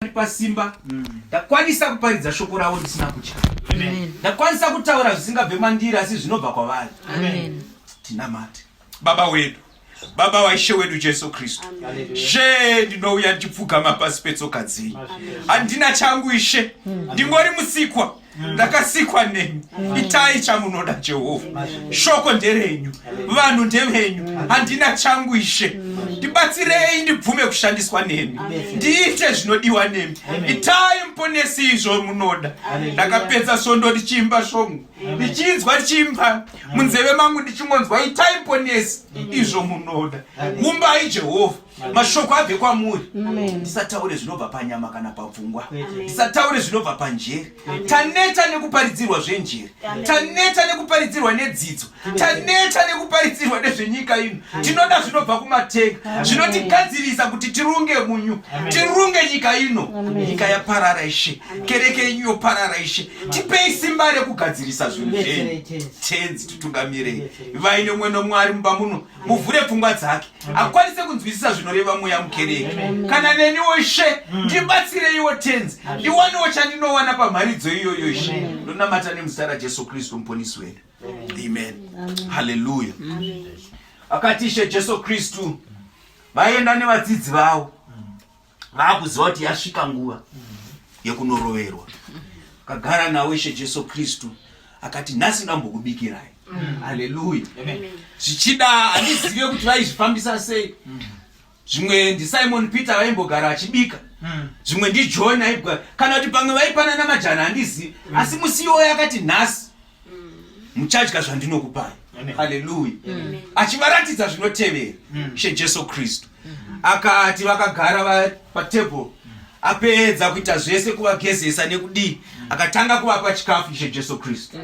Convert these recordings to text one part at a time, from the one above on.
andipa simba mm. ndakwanisa kuparidza shoko ravo ndisina kutya ndakwanisa kutaura zvisingabve mandiri asi zvinobva kwavari tinamate baba wedu baba waishe wedu jesu kristu she ndinouya ndichipfugama pasi petsoka dzenyu handina changu ishe ndingori musikwa mm Mm. ndakasikwa nemi mm. itai chamunoda jehovha mm. shoko nderenyu vanhu ndevenyu handina changu ishe ndibatsirei ndibvume kushandiswa nemi ndiite zvinodiwa nemi itai muponesi izvo munoda ndakapedza svondo ndichiimba svongo ndichinzwa ndichiimba munzeve mangu ndichingonzwa itai muponesi izvo munoda umbai jehovha mashoko abve kwamuri ndisataure zvinobva panyama kana papfungwa ndisataure zvinobva panjere taneta nekuparidzirwa zvenjere taneta nekuparidzirwa nedzidzo taneta nekuparidzirwa nezvenyika ino tinoda zvinobva kumatenga zvinotigadzirisa kuti tirunge munyu tirunge nyika ino nyika yaparara ishe kereke yenyu yoparara ishe tipei simba rekugadzirisa zvinhu zvenyu tenzi titungamirei vaine mwenomwari mumba muno muvhure pfungwa dzake akwanise kunzwisisa zvinoreva mweya mukereke kana neniwo ishe mm. ndibatsireiwo tenzi ndiwanewo chandinowana pamharidzo iyoyo ishe ndonamata nemuzita rajesu kristu muponisi wedu amen haleluya akati ishe jesu kristu vaienda nevadzidzi vavo vakuziva kuti yasvika nguva yekunoroverwa akagara nawo ishe jesu kristu akati nhasi ndambokubikirai mm. aleluya zvichida handizive kuti vaizvifambisa sei mm. zvimwe ndisimon peter vaimbogara achibika mm. zvimwe ndijohn aibgara kana kuti pamwe vaipanana majana handizivi asi musi iwoyo akati nhasi muchadya zvandinokupai haleluya achivaratidza zvinotevera mm. shejesu kristu akati vakagara patable apedza kuita zvese kuvagezesa nekudii akatanga kuvapa chikafu ishe jesu kristu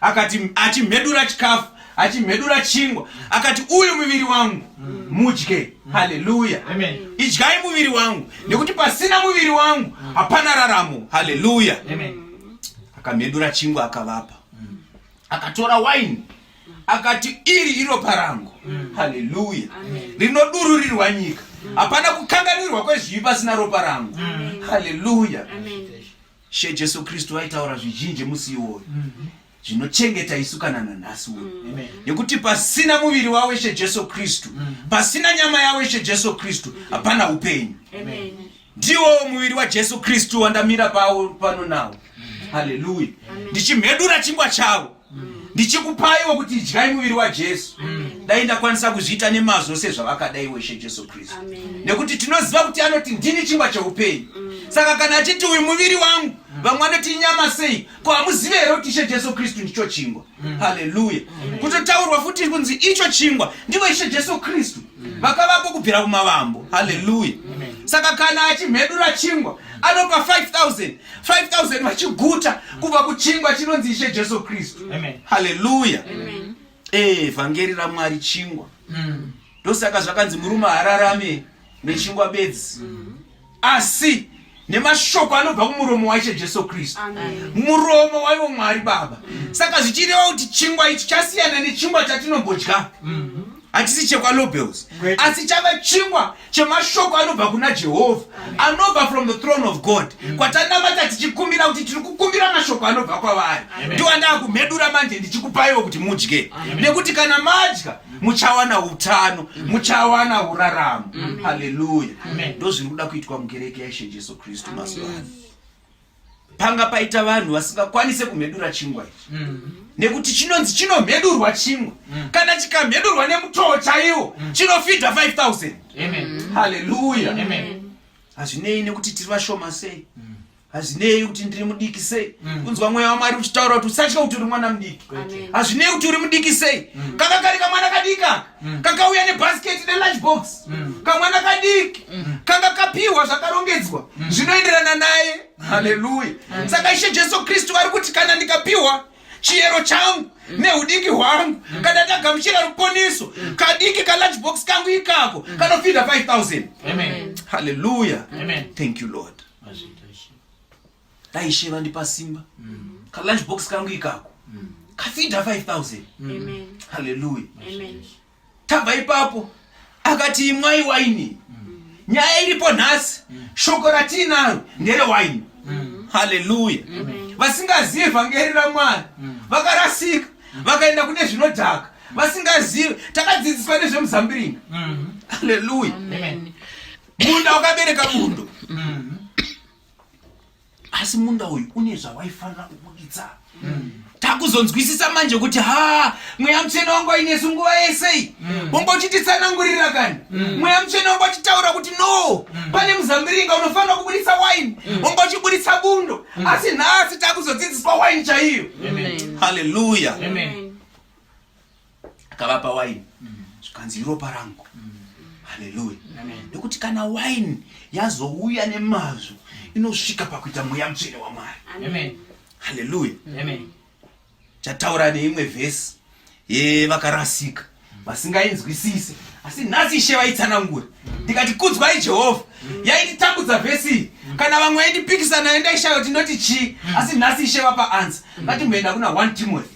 akati achimhedura chikafu achimhedura chingwa akati uyu muviri wangu mudye haleluya idyai muviri wangu nekuti pasina muviri wangu hapana raramo haleluya Amen. akamedura chingwa akavapa mm. akatora waini akati iri iropa rangu mm. haleluya rinodururirwa nyika mm. hapana mm. kukanganirwa kwezvivi pasina ropa rangu mm. haleluya she jesu kristu aitaura zvizhinji musi iwoyo mm -hmm zvinochengeta isu kana nanhasi uno mm. nekuti pasina muviri wawo ishe jesu kristu mm. pasina nyama yawo ishe jesu kristu hapana upenyu Ndiwo muviri waJesu Kristu wandamira pawo pano nawo. Haleluya. Ndichimhedura chingwa chavo. Ndichikupaiwo kuti idyai muviri waJesu. Dai ndakwanisa kuzviita nemazvo sezvavakada iwe Ishe Jesu Kristu. Nekuti tinoziva kuti anoti ndini chingwa cheupenyu. Saka kana achiti uyu muviri wangu, vamwe vanoti inyama sei? Ko hamuzive here kuti Ishe Jesu Kristu ndicho chingwa? Mm. haleluya mm. kutotaurwa futi kunzi icho chingwa ndivo ishe jesu kristu mm. vakavako kubvira kumavambo haleluya saka kana achimhedura chingwa anopa 5000 5000 vachiguta kubva kuchingwa chinonzi ishe jesu kristu haleluya eh, vhangeri ramwari chingwa ndosaka zvakanzi murume hararame nechingwa bedzi asi nemashoko anobva kumuromo waishe jesu kristu muromo waivo mwari baba saka zvichireva kuti chingwa ichi chasiyana nechingwa chatinombodya hatisi chekwalobels asi chava chingwa chemashoko anobva kuna jehovha anobva from the throne of god mm. kwatanamata tichikumbira kuti tiri kukumbira mashoko anobva kwavari ndiwa ndaakumhedura manje ndichikupaiwo kuti mudye nekuti kana madya muchawana utano muchawana uraramo haleluya ndo zviri kuda kuitwa mukereke yaishe jesu kristu mazuva ano panga paita vanhu vasingakwanise kumhedura chingwa ichi mm. nekuti chinonzi chinomhedurwa chingwa mm. kana chikamhedurwa nemutoo chaiwo mm. chinofidha 5000 haleluya hazvinei nekuti tiri vashoma sei hazvinei kuti ndiri mudiki sei mm. kunzwa mweya wamwari uchitaura kuti usatya kuti uri mwana mudiki hazvinei kuti uri mudiki sei mm. kaka kari kamwana kadika mm. kakauya nebhasiketi nelunchbox kamwana kadiki kanga kapiwa zvakarongedzwa zvinoenderana naye haleluya saka ishe jesu kristu ari kuti kana ndikapiwa chiyero changu neudiki hwangu kana ndagamuchira ruponiso kadiki kalunchbox kangu ikako kanofidha 5000 haleluya thank you lord dai ishe vandipa simba mm. kalunch box kangu ikako mm. kafidha 5000 mm. haleluya tabva ipapo akati imwai waini nyaya iripo nhasi shoko ratiinaro ndere waini haleluya vasingazivi vhangeri ramwari vakarasika vakaenda kune zvinodhaka vasingazivi takadzidziswa nezvemuzambiringa haleluya munda wakabereka bundo mm. asi munda uyu une zvawaifanira kubuditsa mm. takuzonzwisisa manje kuti ha mweya mutsvene wangu ainesu nguva yesei mm. wongochititsanangurira kani mweya mutsvene wangu achitaura kuti no pane muzambiringa unofanira kubuditsa waini wongochibuditsa bundo asi nhasi takuzodzidziswa waini chaiyo haleluya akavapa waini zvikanzi iropa rangu haleluya nekuti kana waini yazouya nemazvo inosvika pakuita mweya mutsvene wamwari haleluya chataura neimwe vhesi yevakarasika vasingainzwisise asi nhasi ishe vaitsanangura ndikati kudzwai jehovha yaititambudza vhesi kana vamwe yaitipikisa nayo ndaishaya kuti ndoti chii asi nhasi ishe vapa ansa ngatimboenda kuna 1 timothy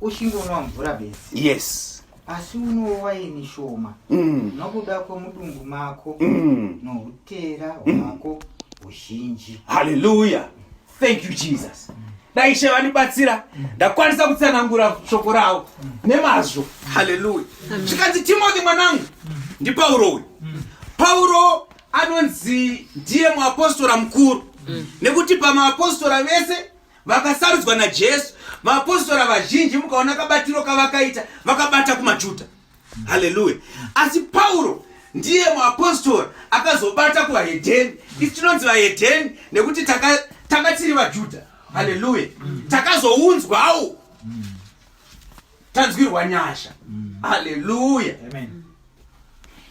uchingonwa mvura bedzi yes asi unowo waini shoma mm. nokuda kwomudumbu mako mm. noutera hwako huzhinji haleluya thank you jesus dai ishe vandibatsira ndakwanisa kutsanangura shoko ravo nemazvo haleluya zvikanzi timothy mwanangu ndipauro uyu pauro anonzi ndiye muapostora mukuru nekuti pamaapostora vese vakasarudzwa najesu vaapostora vazhinji mukaona kabatiro kavakaita vakabata kumajuda haleluya asi pauro ndiye muapostora akazobata kuvahedheni isi tinonzi vahedheni nekuti tanga taka tiri vajuda haleluya takazounzwawo tanzwirwa nyasha mm. haleluya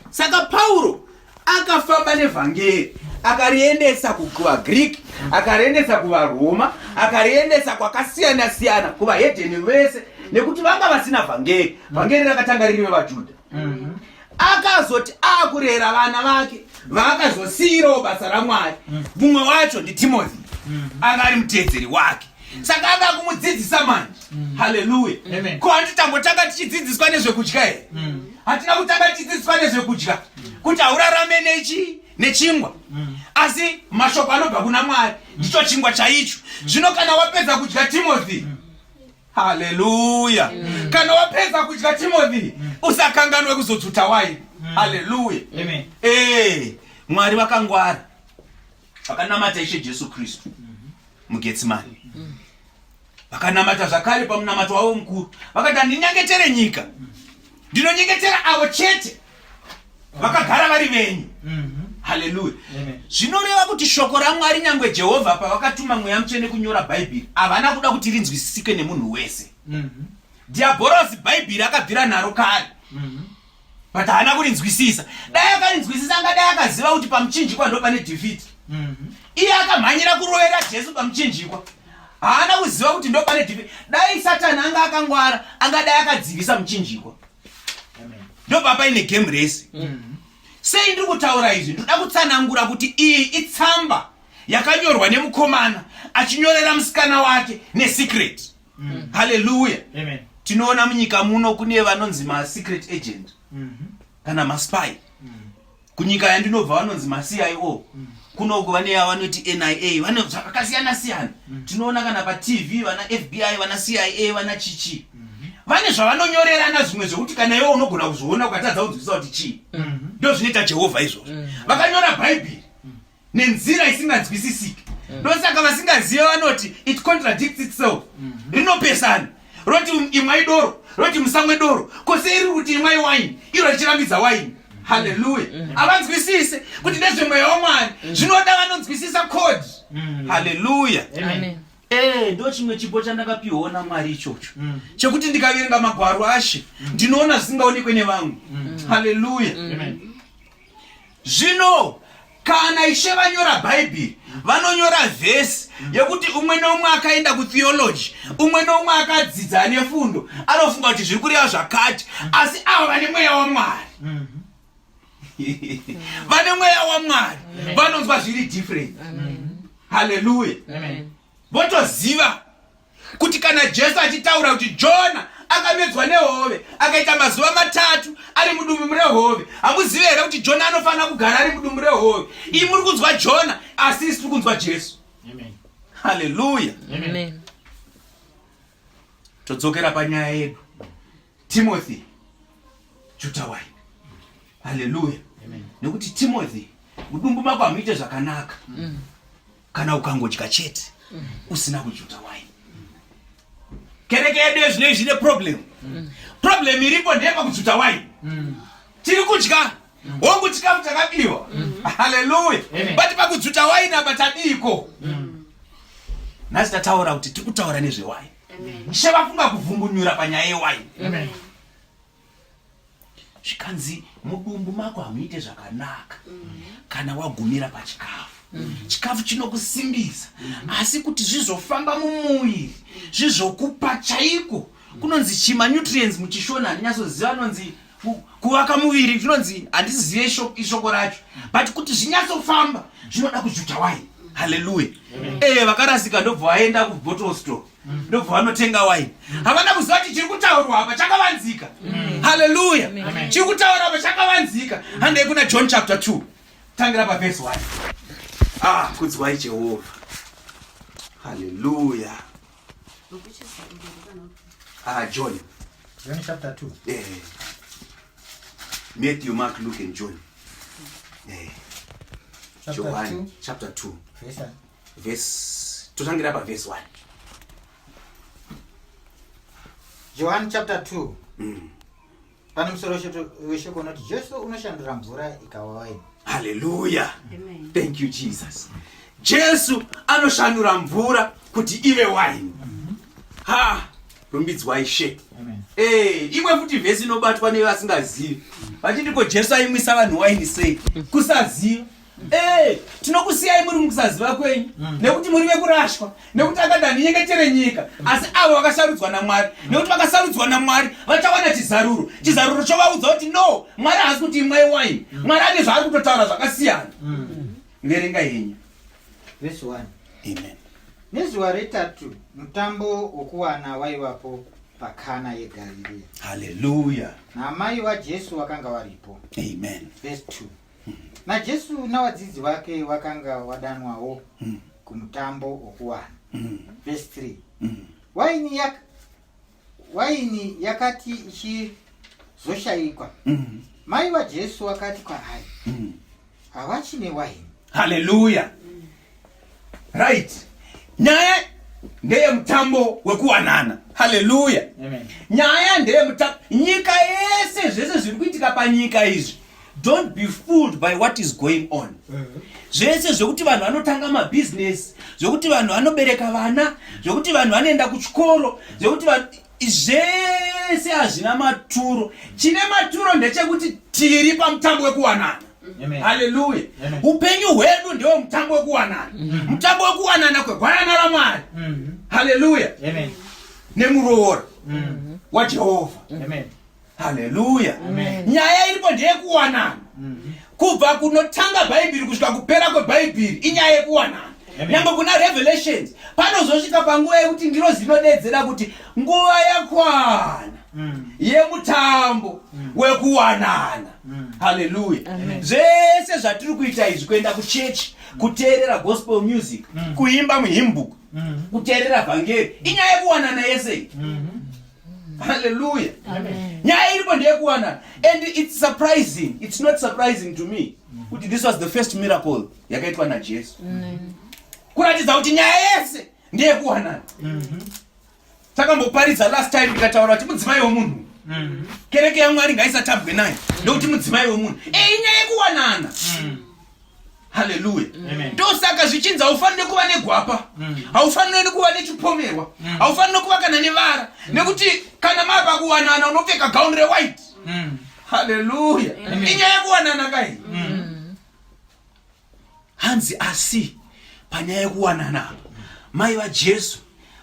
saka pauro akafamba nevhangeri akariendesa kuvagreek akariendesa kuvaroma akariendesa kwakasiyana siyana kuvahedheni vese nekuti vanga vasina vhangeri vhangeri rakatanga riri vevajudha mm-hmm. akazoti akurera vana vake vaakazosiirawo basa ramwari mm. mumwe wacho nditimothy mm-hmm. anga ari muteedzeri wake saka anga kumudzidzisa manje mm. haleluya ko hati tambotanga tichidzidziswa nezvekudya here mm. hatina kutanga tichidzidziswa nezvekudya kuti haurarame nechi nechingwa mm. asi mashoko anobva kuna mwari ndicho chingwa chaicho zvino kana wapedza kudya timothy Haleluya. Mm. Kana wapedza kudya Timothy, mm. usakanganwe kuzodzvuta waini. Mm. Haleluya. Amen. Eh, Mwari vakangwara. Vakanamata Ishe Jesu Kristu mm-hmm. muGetsemane. Mm. Vakanamata zvakare pamunamato wavo mukuru. Vakati ndinyengetere nyika. Mm. Ndinonyengetera avo chete vakagara vari venyu mhm. haleluya zvinoreva kuti shoko ramwari nyangwe jehovha pavakatuma mweya mutsvene kunyora bhaibheri havana kuda kuti rinzwisisike nemunhu wese mhm. dhiabhorosi bhaibheri akabvira naro kare mhm. but haana kurinzwisisa dai akarinzwisisa angadai akaziva kuti pamuchinjikwa ndo pane dhifiti iye akamhanyira kurovera jesu pamuchinjikwa haana kuziva kuti ndo pane dhifiti dai satani anga akangwara angadai akadzivisa muchinjikwa ndobva paine game rese sei ndiri kutaura izvi ndoda kutsanangura kuti iyi itsamba yakanyorwa nemukomana achinyorera musikana wake nesecret mm. haleluya tinoona munyika muno kune vanonzi masecret agent mm -hmm. kana maspy mm. kunyika yandinobva vanonzi macio mm. kunoku vane yavanoti nia vane zvakakasiyana siyana mm. tinoona kana patv vana fbi vana cia vana chichi mm-hmm. vane zvavanonyorerana zvimwe zvekuti kana iwe unogona kuzviona ukatadza kunzwisisa kuti chii mm-hmm. ndo zvinoita jehovha izvozvo mm-hmm. vakanyora bhaibheri nenzira isinganzwisisiki mm. ndosaka vasingazive vanoti it contradicts itself mm -hmm. rinopesana roti um, imwai doro roti musamwe doro kose iri kuti imwai waini iro richirambidza waini haleluya mm. havanzwisise kuti ndezvemweya wamwari mm. zvinoda vanonzwisisa code mm. haleluya ee ndo chimwe chipo chandakapiwawo namwari ichocho chekuti ndikaverenga magwaro ashe ndinoona zvisingaonekwe nevamwe haleluya zvino kana ishe vanyora bhaibheri vanonyora vhesi yekuti umwe neumwe akaenda kutheology umwe neumwe akadzidza ane fundo anofunga kuti zviri kureva zvakati asi ava vane mweya wamwari vane mweya wamwari vanonzwa zviri different haleluya votoziva kuti kana jesu achitaura kuti jona akamedzwa nehove akaita mazuva matatu ari mudumbu murehove hamuzive here kuti jona anofanira kugara ari mudumbu rehove iyi muri kunzwa jona asi isi tiri kunzwa jesu haleluya todzokera panyaya yedu timothy jutawai haleluya nekuti timothy mudumbu mako hamuite zvakanaka mm. kana ukangodya chete usina kujuta wine kereke yedu yezvino izvi ine problem problem iripo ndeyeva kujuta wine tiri kudya hongu chikafu chakabiwa haleluya but pakujuta wine apa tadiiko nhasi tataura kuti tiri kutaura nezvewine she vafunga kuvhungunyura panyaya yewine zvikanzi mudumbu mako hamuite zvakanaka kana wagumira pachikafu chikafu chinokusimbisa asi kuti zvizofamba mumuviri zvizokupa chaiko kunonzi chima nutrients muchishona handinyatsoziva anonzi kuvaka muviri zvinonzi handizive ishoko racho but kuti zvinyatsofamba zvinoda kujuta wai haleluya ee eh, vakarasika ndobva vaenda kubottle store ndobva vanotenga waini havana kuziva kuti chiri kutaurwa apa chakavanzika mm. haleluya chiri kutaura apa chakavanzika handei kuna john chapter 2 tangira pavhesi 1 ah kudzwai jehovha haleluya ah john john chapter 2 eh matthew mark luke and john eh chapter 2 chapter 2 verse Verse totangira pa verse 1. John chapter 2. Mm. Pane musoro weshoko unoti Jesu unoshandura mvura ikawa waini. Hallelujah. Amen. Thank you Jesus. Jesu anoshandura mvura kuti ive waini. Mm -hmm. Ha, rumbidzwai she. Amen. Eh, imwe futi verse inobatwa nevasingazivi. Vachiti ko Jesu aimwisa vanhu waini sei? Kusaziva. Eh, tinokusiyai muri mukusaziva kwenyu mm. nekuti muri vekurashwa nekuti akada ndinyengetere nyika mm. asi avo vakasarudzwa namwari mm. nekuti vakasarudzwa namwari vachawana chizaruro chizaruro chovaudza kuti no mwari haasi kuti imwai waini mwari ane zvaari kutotaura zvakasiyana verenga henyu vesi 1 amen nezuva retatu mutambo wokuwana waivapo pakana yegaririya haleluya naamai vajesu vakanga varipo amen vesi 2 najesu navadzidzi vake vakanga wadanwawo mm. kumutambo wokuwana mm. vhesi 3 mm. waini, yak, waini yakati ichizoshayikwa mm. mai vajesu vakati kwaari mm. havachine waini haleluya mm. right nyaya ndeye mutambo wekuwanana haleluya nyaya ndeye mutambo nyika yese zvese zviri kuitika panyika izvi don't be fooled by what is going on mhm. zvese zvekuti vanhu vanotanga mabhizinesi zvekuti vanhu vanobereka vana zvekuti vanhu vanoenda kuchikoro zvekuti Zvese hazvina maturo. Chine maturo ndechekuti tiri pamutambo wekuwanana. Haleluya. Upenyu hwedu ndewo mutambo wekuwanana. Mm-hmm. Mutambo wekuwanana kwegwanana raMwari. Mm-hmm. Haleluya. Nemuroora mm-hmm. waJehovha. haleluya nyaya iripo ndeyekuwanana mhm. kubva kunotanga bhaibheri kusvika kupera kwebhaibheri inyaya yekuwanana nyangwe kuna revelations panozosvika panguva yekuti ndiro zinodedzera kuti nguva yakwana mm. yemutambo mm. wekuwanana mm. haleluya zvese zvatiri kuita izvi kuenda kuchechi kuteerera gospel music kuimba muhimbuku kuteerera vhangeri inyaya yekuwanana yese mm-hmm. Hallelujah. Amen. Nyaya iripo ndeyekuwanana and it's surprising. It's not surprising to me kuti this was the first miracle yakaitwa naJesu. Kuratidza kuti nyaya yese ndeyekuwanana. Mhm. Takamboparidza last time ndikataura kuti mudzimai wemunhu Mm-hmm. kereke yamwari ngaisatabwe nayo ndokuti mudzimai wemunhu eyi nyaya yekuwanana mm. haleluya ndosaka zvichinzi haufanire kuva negwapa mm. haufanire kuva nechipomerwa mm. haufanire kuva kana nevara mm. nekuti kana mava kuwanana unopfeka gauni rewhite haleluya inyaya yekuwanana kai hanzi asi panyaya yekuwanana apa mai vajesu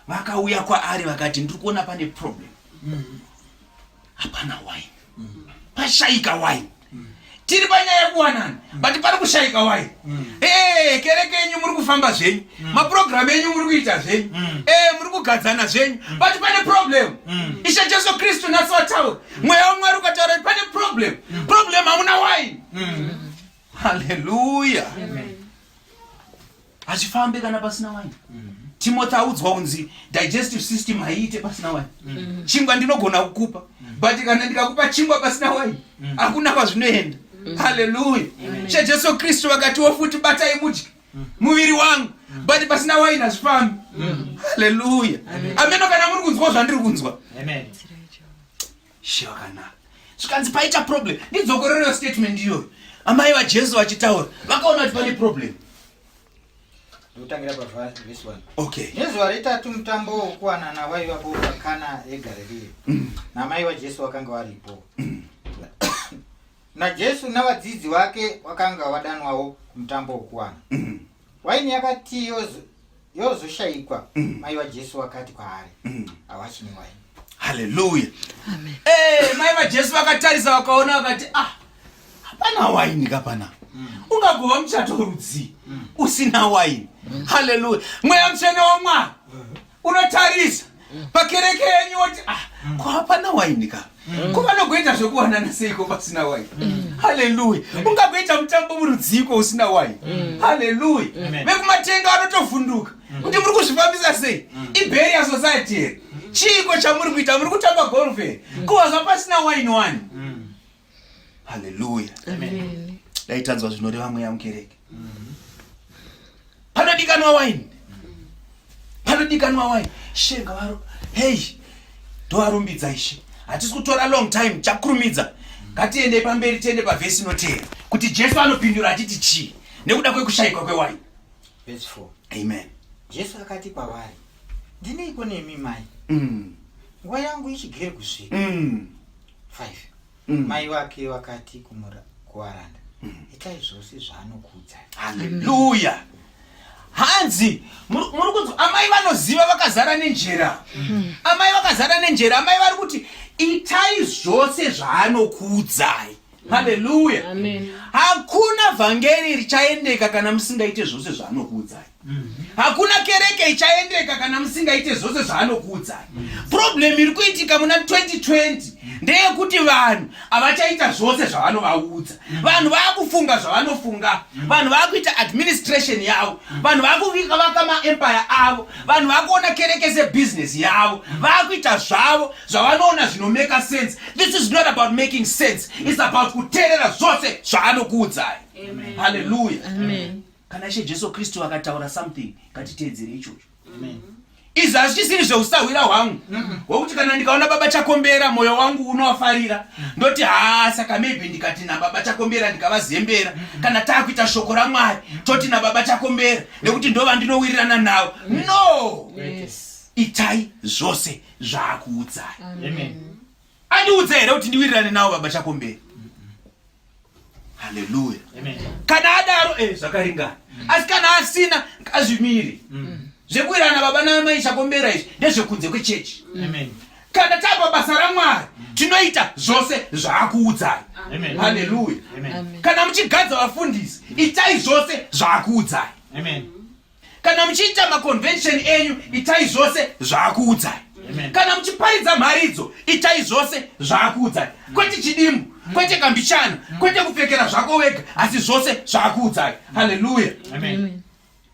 vakauya kwaari vakati ndiri kuona pane problem hapana wine pashaika wine tiri panyaya yekuwanana but pari kushaika wine ee kereke yenyu muri kufamba zvenyu mapurogiramu enyu muri kuita zvenyu ee muri kugadzana zvenyu but pane problem ishe jesu kristu nhasi wataura mweya wamwari ukataura kuti pane problem problem hamuna wine haleluya Amen. hazvifambe kana pasina wine mm. timothy audzwa kunzi digestive system haiite pasina wine mm. chingwa ndinogona kukupa mm. but kana ndikakupa chingwa pasina wine mm. hakuna mm. kwazvinoenda mm. haleluya mm. chejesu kristu vakatiwo futi batai mudye mm. muviri wangu mm. but pasina wine hazvifambi mm. haleluya ameno kana muri kunzwa zvandiri kunzwa Amen. Shakana. Zvikanzi paita problem. Ndidzokorero statement iyoyo. Amai vaJesu vachitaura. Vakaona kuti pane problem. Ndotangira bava this one. Okay. Nezuva retatu mutambo wokuwanana waiva po pakana yeGarirea. Mm. Namai vaJesu vakanga varipo. Mm. naJesu navadzidzi vake wakanga wadanwawo mutambo wokuwana. Mm. waini yakati yozoshayikwa mm. mai vajesu wakati kwaari mm. hawachine waini haleluya eh, mai vajesu vakatarisa vakaona vakati ah hapana waini kapana mm. ungagova muchato rudzii usina waini haleluya mweya mutsvene wamwari unotarisa pakereke yenyu woti ah, mm. ko hapana waini ka mm. ko vanogoita zvekuwanana seiko pasina waini mm. haleluya ungagoita mutambo murudziiko usina waini haleluya vekumatenga vanotovhunduka kuti muri kuzvifambisa sei iberia society here chiiko chamuri kuita muri kutamba golf here ko hazva pasina waini wani haleluya dai tanzwa zvinoreva mweya mukereke panodikanwa waini panodikanwa waini ishe ngavaro hei ndovarumbidza ishe hatisi kutora long time chakurumidza ngatiendei pamberi tiende pavhesi inoteera kuti jesu anopindura achiti chii nekuda kwekushayikwa kwewaini amen jesu akati kwavari ndineiko nemi mai mm. nguva yangu ichigere kusvika mm. 5 mm. mai vake vakati kuvaranda mm. itai zvose zvaanokuudzai haleluya hanzi muri kunzwa amai vanoziva vakazara nenjera mm. amai vakazara nenjera amai vari kuti itai zvose zvaanokuudzai haleluya hakuna vhangeri richaendeka kana musingaite zvose zvaanokuudzai hakuna kereke ichaendeka kana musingaite zvose zvaanokuudzai problem iri kuitika muna 2020 ndeyekuti vanhu havachaita zvose zvavanovaudza vanhu vaakufunga zvavanofunga vanhu vaakuita administration yavo vanhu vaakuvika vaka maempire avo vanhu vaakuona kereke sebusiness yavo vaakuita zvavo zvavanoona zvinomeka sense this is not about making sense its about kuteerera zvose zvaanokuudzai haleluya kana ishe jesu kristu akataura something ngatiteedzere ichocho izvi hazvichisiri zveusahwira hwangu hwekuti kana ndikaona baba chakombera mwoyo wangu unowafarira ndoti haa saka maybe ndikati nababa chakombera ndikavazembera kana taakuita shoko ramwari toti nababa chakombera nekuti ndova ndinowirirana navo no itai zvose zvaakuudzai andiudza here kuti ndiwirirane nawo baba chakomberi haleluya kana adaro eh, zvakaringana mm. asi kana asina ngazvimiri mm. zvekuwirirana baba namai chakombera izvi ndezvekunze kwechechi mm. kana tava basa ramwari tinoita zvose zvaakuudzai haleluya kana muchigadza vafundisi itai zvose zvaakuudzai kana muchiita maconvention enyu itai zvose zvaakuudzai kana muchiparidza mharidzo itai zvose zvaakuudzai kwete chidimbu kwete kambichana kwete kupfekera zvako wega asi zvose zvaakuudzai haleluya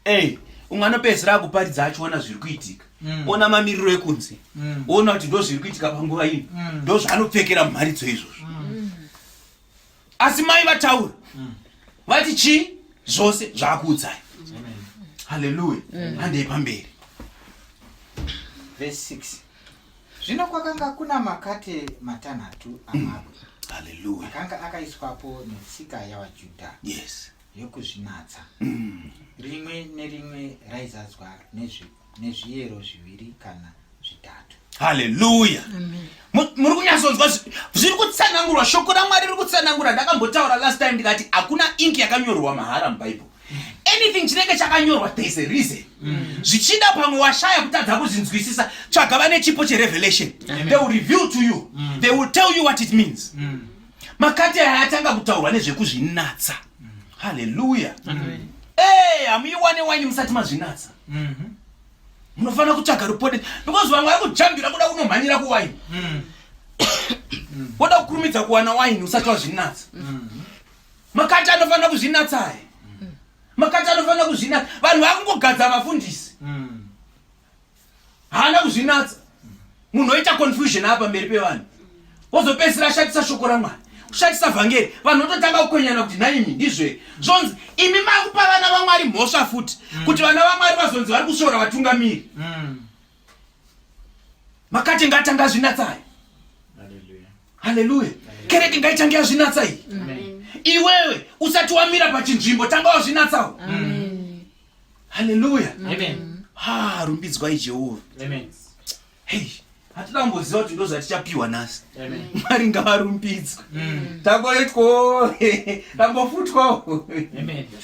ey umwe anopedzisira akuparidza achiona zviri kuitika mm. ona mamiriro ekunze mm. ona kuti ndo zviri kuitika panguva ino mm. ndo zvaanopfekera mumharidzo izvozvo asi mai vataura vati chii zvose zvaakuudzai haleluya handei pamberi verse 6 zvino kwakanga kuna makate matanhatu amabwe haleluya akanga akaiswapo netsika yavajudha yes yokuzvinatsa rimwe nerimwe raizadzwa nezvipo nezviyero zviviri kana zvitatu haleluya muri kunyatsonzwa zviri kutsanangurwa shoko ramwari riri kutsanangura ndakambotaura last time ndikati hakuna inki yakanyorwa mahara mubhaibheri anything chinenge chakanyorwa thereis a reason mm. zvichida pamwe washaya kutadza kuzvinzwisisa tsvaga vane chipo cherevelation they will reveal to you mm. they will tell you what it means mm. makati aya atanga kutaurwa nezvekuzvinatsa haleluya ey hamuiwane waini musati mazvinatsa mm-hmm. munofanira kutsvaga rupode because vamwe vari kujambira kuda kunomhanyira kuwaini mm. woda kukurumidza kuwana waini usati wazvinatsa mm-hmm. makati anofanira kuzvinatsa aye mm. makati anofanira kuzvinatsa vanhu vakungogadza vafundisi mm. haana kuzvinatsa munhu oita confusion apa mberi pevanhu wozopedzisira ashatisa shoko ramwari kushatisa vhangeri vanhu vototanga kukwenyana kuti nhaimi ndizve zvonzi imi makupa vana vamwari mhosva futi mm. kuti vana vamwari vazonzi vari kusvora vatungamiri mm. makati ngatanga azvinatsai haleluya kereke ngaitange azvinatsai iwewe usati wamira pachinzvimbo tanga wazvinatsawo haleluya ha rumbidzwai jehovha hei hatina kumboziva kuti ndozvatichapiwa nhasi mwari ngavarumbidzwe mm. tangoitwawo tambofutwawo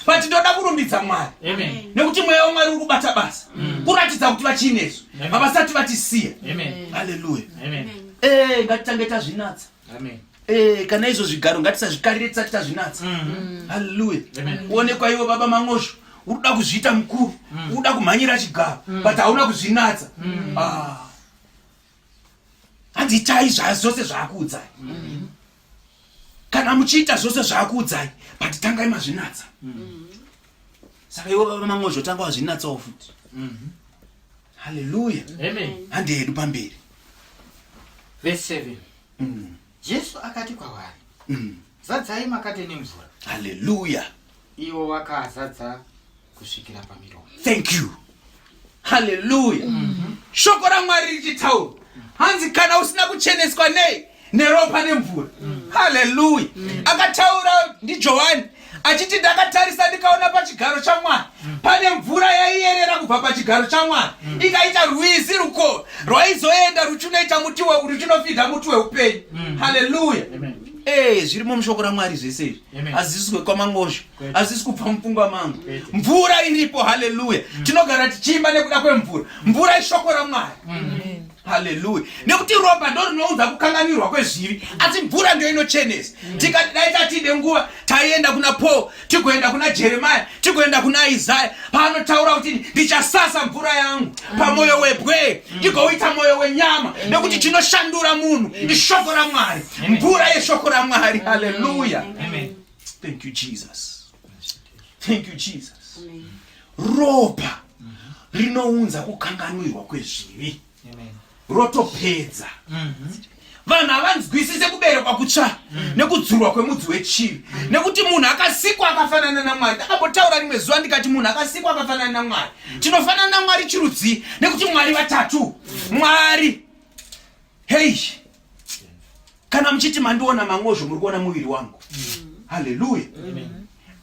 but ndoda kurumbidza mwari nekuti mweya wamwari uri kubata basa mm. kuratidza kuti vachiinezvo havasati vatisiya haleluya eh, ngatitange tazvinatsa Amen. Eh, kana izvo zvigaro ngatisazvikarire tisati tazvinatsa mm. halleluya uonekwa iwo baba mang'osvo uruda kuzviita mukuru mm. uruda kumhanyira chigaro mm. but hauna kuzvinatsa ah. hanzi itai zvazvose zvaakuudzai kana muchiita zvose zvaakuudzai but tangai mazvinatsa saka iwo baba mang'osvo tanga wazvinatsawo futi mm-hmm. haleluya handi hedu pamberi vese 7 mm. jesu akati kwavari mm. zadzai makate nemvura haleluya iwo wakazadza kusvikira pamiromo thank you haleluya mm -hmm. shoko ramwari richitaura hanzi kana usina kucheneswa nei neropa nemvura mm. haleluya mm. akataura ndijohani achiti ndakatarisa ndikaona pachigaro chamwari mm. pane mvura yaiyerera kubva pachigaro chamwari mm. ikaita rwizi ruko rwaizoenda ruchinoita muti ruchinofidha muti weupenyu mm. haleluya ee eh, zviri mushoko ramwari zvese izvi hazisi kwekwamangozvo hazisi kubva mupfungwa mangu mvura iripo haleluya mm. tinogara tichiimba nekuda kwemvura mvura ishoko ramwari haleluya nekuti ropa ndo rinounza kukanganirwa kwezvivi asi mvura ndio inochenesa mm. tikadai tatide nguva taienda kuna paul tigoenda kuna jeremaya tigoenda kuna isaya paanotaura kuti ndichasasa mvura yangu pamwoyo mm. webwee mm. ndigouita mwoyo wenyama nekuti chinoshandura munhu ishoko ramwari mvura yeshoko ramwari haleluya thank you jesus thank you jesus ropa rinounza kukanganwirwa kwezvivi rotopedza mhm. vanhu havanzwisise kuberekwa kutsva mm. nekudzurwa kwemudzi wechivi mm. nekuti munhu akasikwa akafanana namwari ndakambotaura rimwe zuva ndikati munhu akasikwa akafanana namwari mm. tinofanana namwari chirudzii nekuti mwari vatatu mwari hei kana muchiti mandiona mangozvo muri kuona muviri wangu haleluya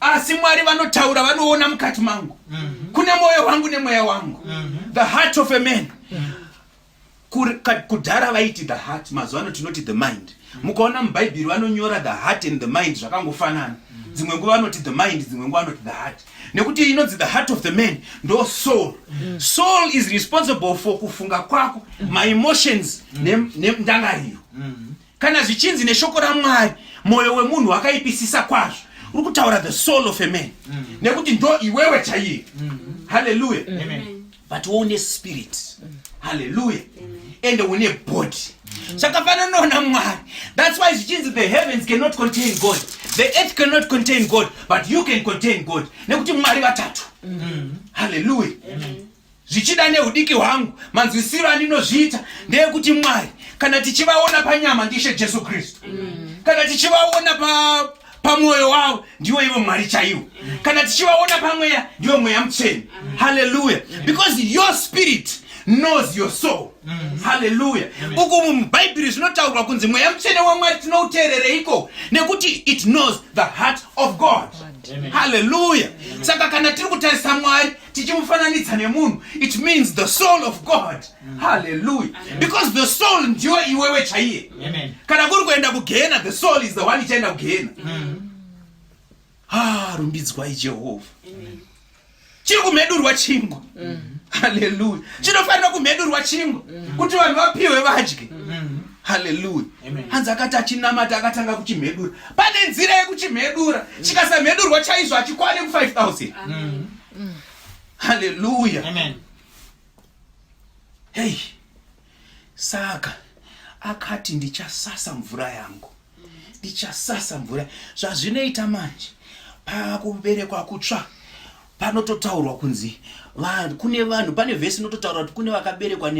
asi mwari vanotaura vanoona mukati mangu mhm. kune mwoyo wangu nemweya wangu mhm. the heart of a man mhm. kudhara vaiti the heart mazuva ano tinoti the mind mukaona mubhaibheri vanonyora the heart and the mind zvakangofanana dzimwe nguva vanoti the mind dzimwe nguva vanoti the heart nekuti inonzi the heart of the man ndo soul mm. soul is responsible for kufunga kwako mm. maemotions mm. nendangariro ne, ne mm. kana zvichinzi neshoko ramwari mwoyo wemunhu wakaipisisa kwazvo uri kutaura the soul of a man mm. nekuti ndo iwewe chaiye mm. haleluya mm. but une spirit haleluya ende une body zvakafananawo namwari thats why zvichinzi the heavens cannot contain god the earth cannot contain god but you can contain god nekuti mwari vatatu haleluya zvichida neudiki hwangu manzwisiro andinozviita ndeyekuti mwari kana tichivaona panyama ndishe jesu kristu kana tichivaona pa pamwoyo wavo ndiwo ivo mwari chaivo kana tichivaona pamweya ndiwo mweya mutsveni haleluya because your spirit knows your soul haleluya uku mubhaibheri zvinotaurwa kunzi mweya mutsvene wamwari tinouteerereiko nekuti it knows the heart of god haleluya saka kana tiri kutarisa mwari tichimufananidza nemunhu it means the soul of god mm. halleluya because the soul ndiwe iwewe chaiye kana kuri kuenda kugehena the soul is the one ichaenda kugehena mm. ha ah, rumbidzwai jehovha chiri kumhedurwa chingwa mm. halleluya chinofanira kumhedurwa chingwa mm. kuti vanhu vapiwe vadye mm. haleluya hanzi akati achinamata akatanga kuchimhedura pane nzira yekuchimhedura chikasamhedurwa chaizvo achikwane ku 5000 haleluya hei saka akati ndichasasa mvura yangu ndichasasa mvura zvazvinoita manje pakuberekwa kutsva panototaurwa kunzi vanhu kune vanhu pane vhesi inototaura kuti kune vakaberekwa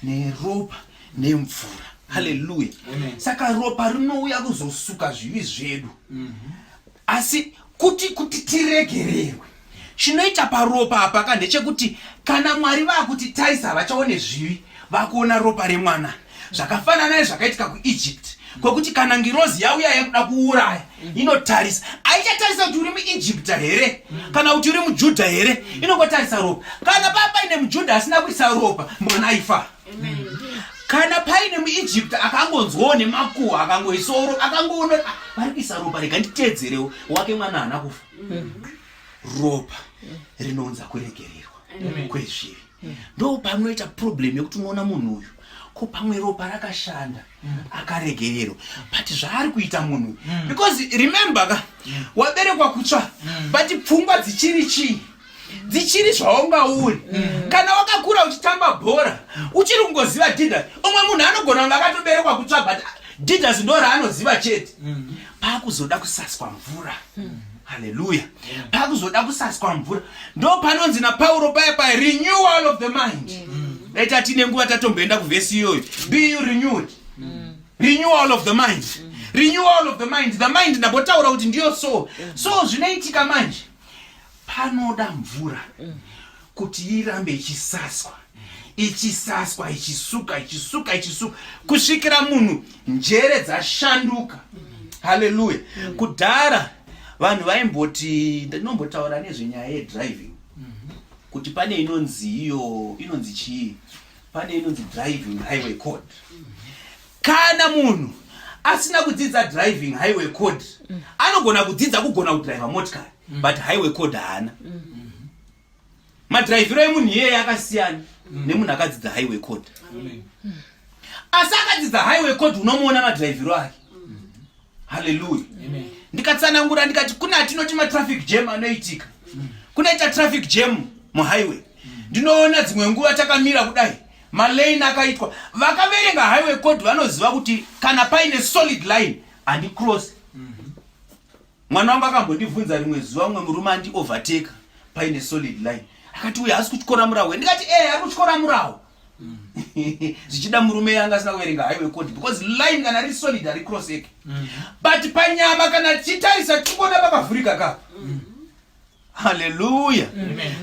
neropa ne nemvura haleluya saka ropa rinouya kuzosuka zvivi zvedu mm -hmm. asi kuti kuti tiregererwe chinoita paropa apa ka ndechekuti kana mwari vakuti taisa havachaone zvivi vakuona ropa remwana zvakafanana nezvakaitika kuegypt kwekuti kana ngirozi yauya yekuda kuuraya inotarisa aichatarisa kuti uri muegypta here kana kuti uri mujudha here inongotarisa ropa kana papa ine mujudha asina kuisa ropa mwana aifaa kana paine muegypt akangonzwawo nemakuhwa akangoisoro akangoona ah, vari kuisa ropa rega nditeedzerewo wake mwana haana kufa mm. ropa rinounza kuregererwa kwezvivi mm. ndo panoita problem yekuti unoona munhu uyu ko pamwe ropa rakashanda mm. akaregererwa but zvaari kuita munhu because remember ka waberekwa kutsva but pfungwa dzichiri chii dzichiri zvaunga uri mm. kana wakakura uchitamba bhora uchiri kungoziva didas umwe munhu anogona kunge akatoberekwa kutsva but didas ndo raanoziva chete mm. paakuzoda kusaswa mvura mm. haleluya paakuzoda kusaswa mvura ndo panonzi napauro paya paya renewal of the mind dai tatine nguva tatomboenda kuvhesi iyoyo be you renewed renewal of the mind renewal of the mind the mind ndambotaura kuti ndiyo so so zvinoitika manje panoda mvura kuti irambe ichisaswa ichisaswa ichisuka ichisuka ichisuka kusvikira munhu njere dzashanduka haleluya kudhara vanhu vaimboti ndinombotaura nezvenyaya yedriving kuti pane inonzi iyo inonzi chii pane inonzi driving highway code kana munhu asina kudzidza driving highway code mm. anogona kudzidza kugona kudriva motikari mm. but highway code haana mm. madriviro emunhu iyeye akasiyana mm. nemunhu akadzidza highway code mm. asi akadzidza highway code unomuona madriviro ake mm. haleluya ndikatsanangura ndikati kune atinoti matraffic jam anoitika mm. kunoita traffic jam muhighway mm. ndinoona dzimwe nguva takamira kudai malane akaitwa vakaverenga highway code vanoziva kuti kana paine solid line handicross mm-hmm. mwana wangu akambondibvunza rimwe zuva mumwe murume andiovertake paine solid line akati uye haasi kutyora muraho ndikati e eh, ari kutyora muraho mm. zvichida murume yanga asina kuverenga highway code because line kana riri solid hari cross eke mm. but panyama kana tichitarisa tichikuona pakavhurika ka mm. haleluya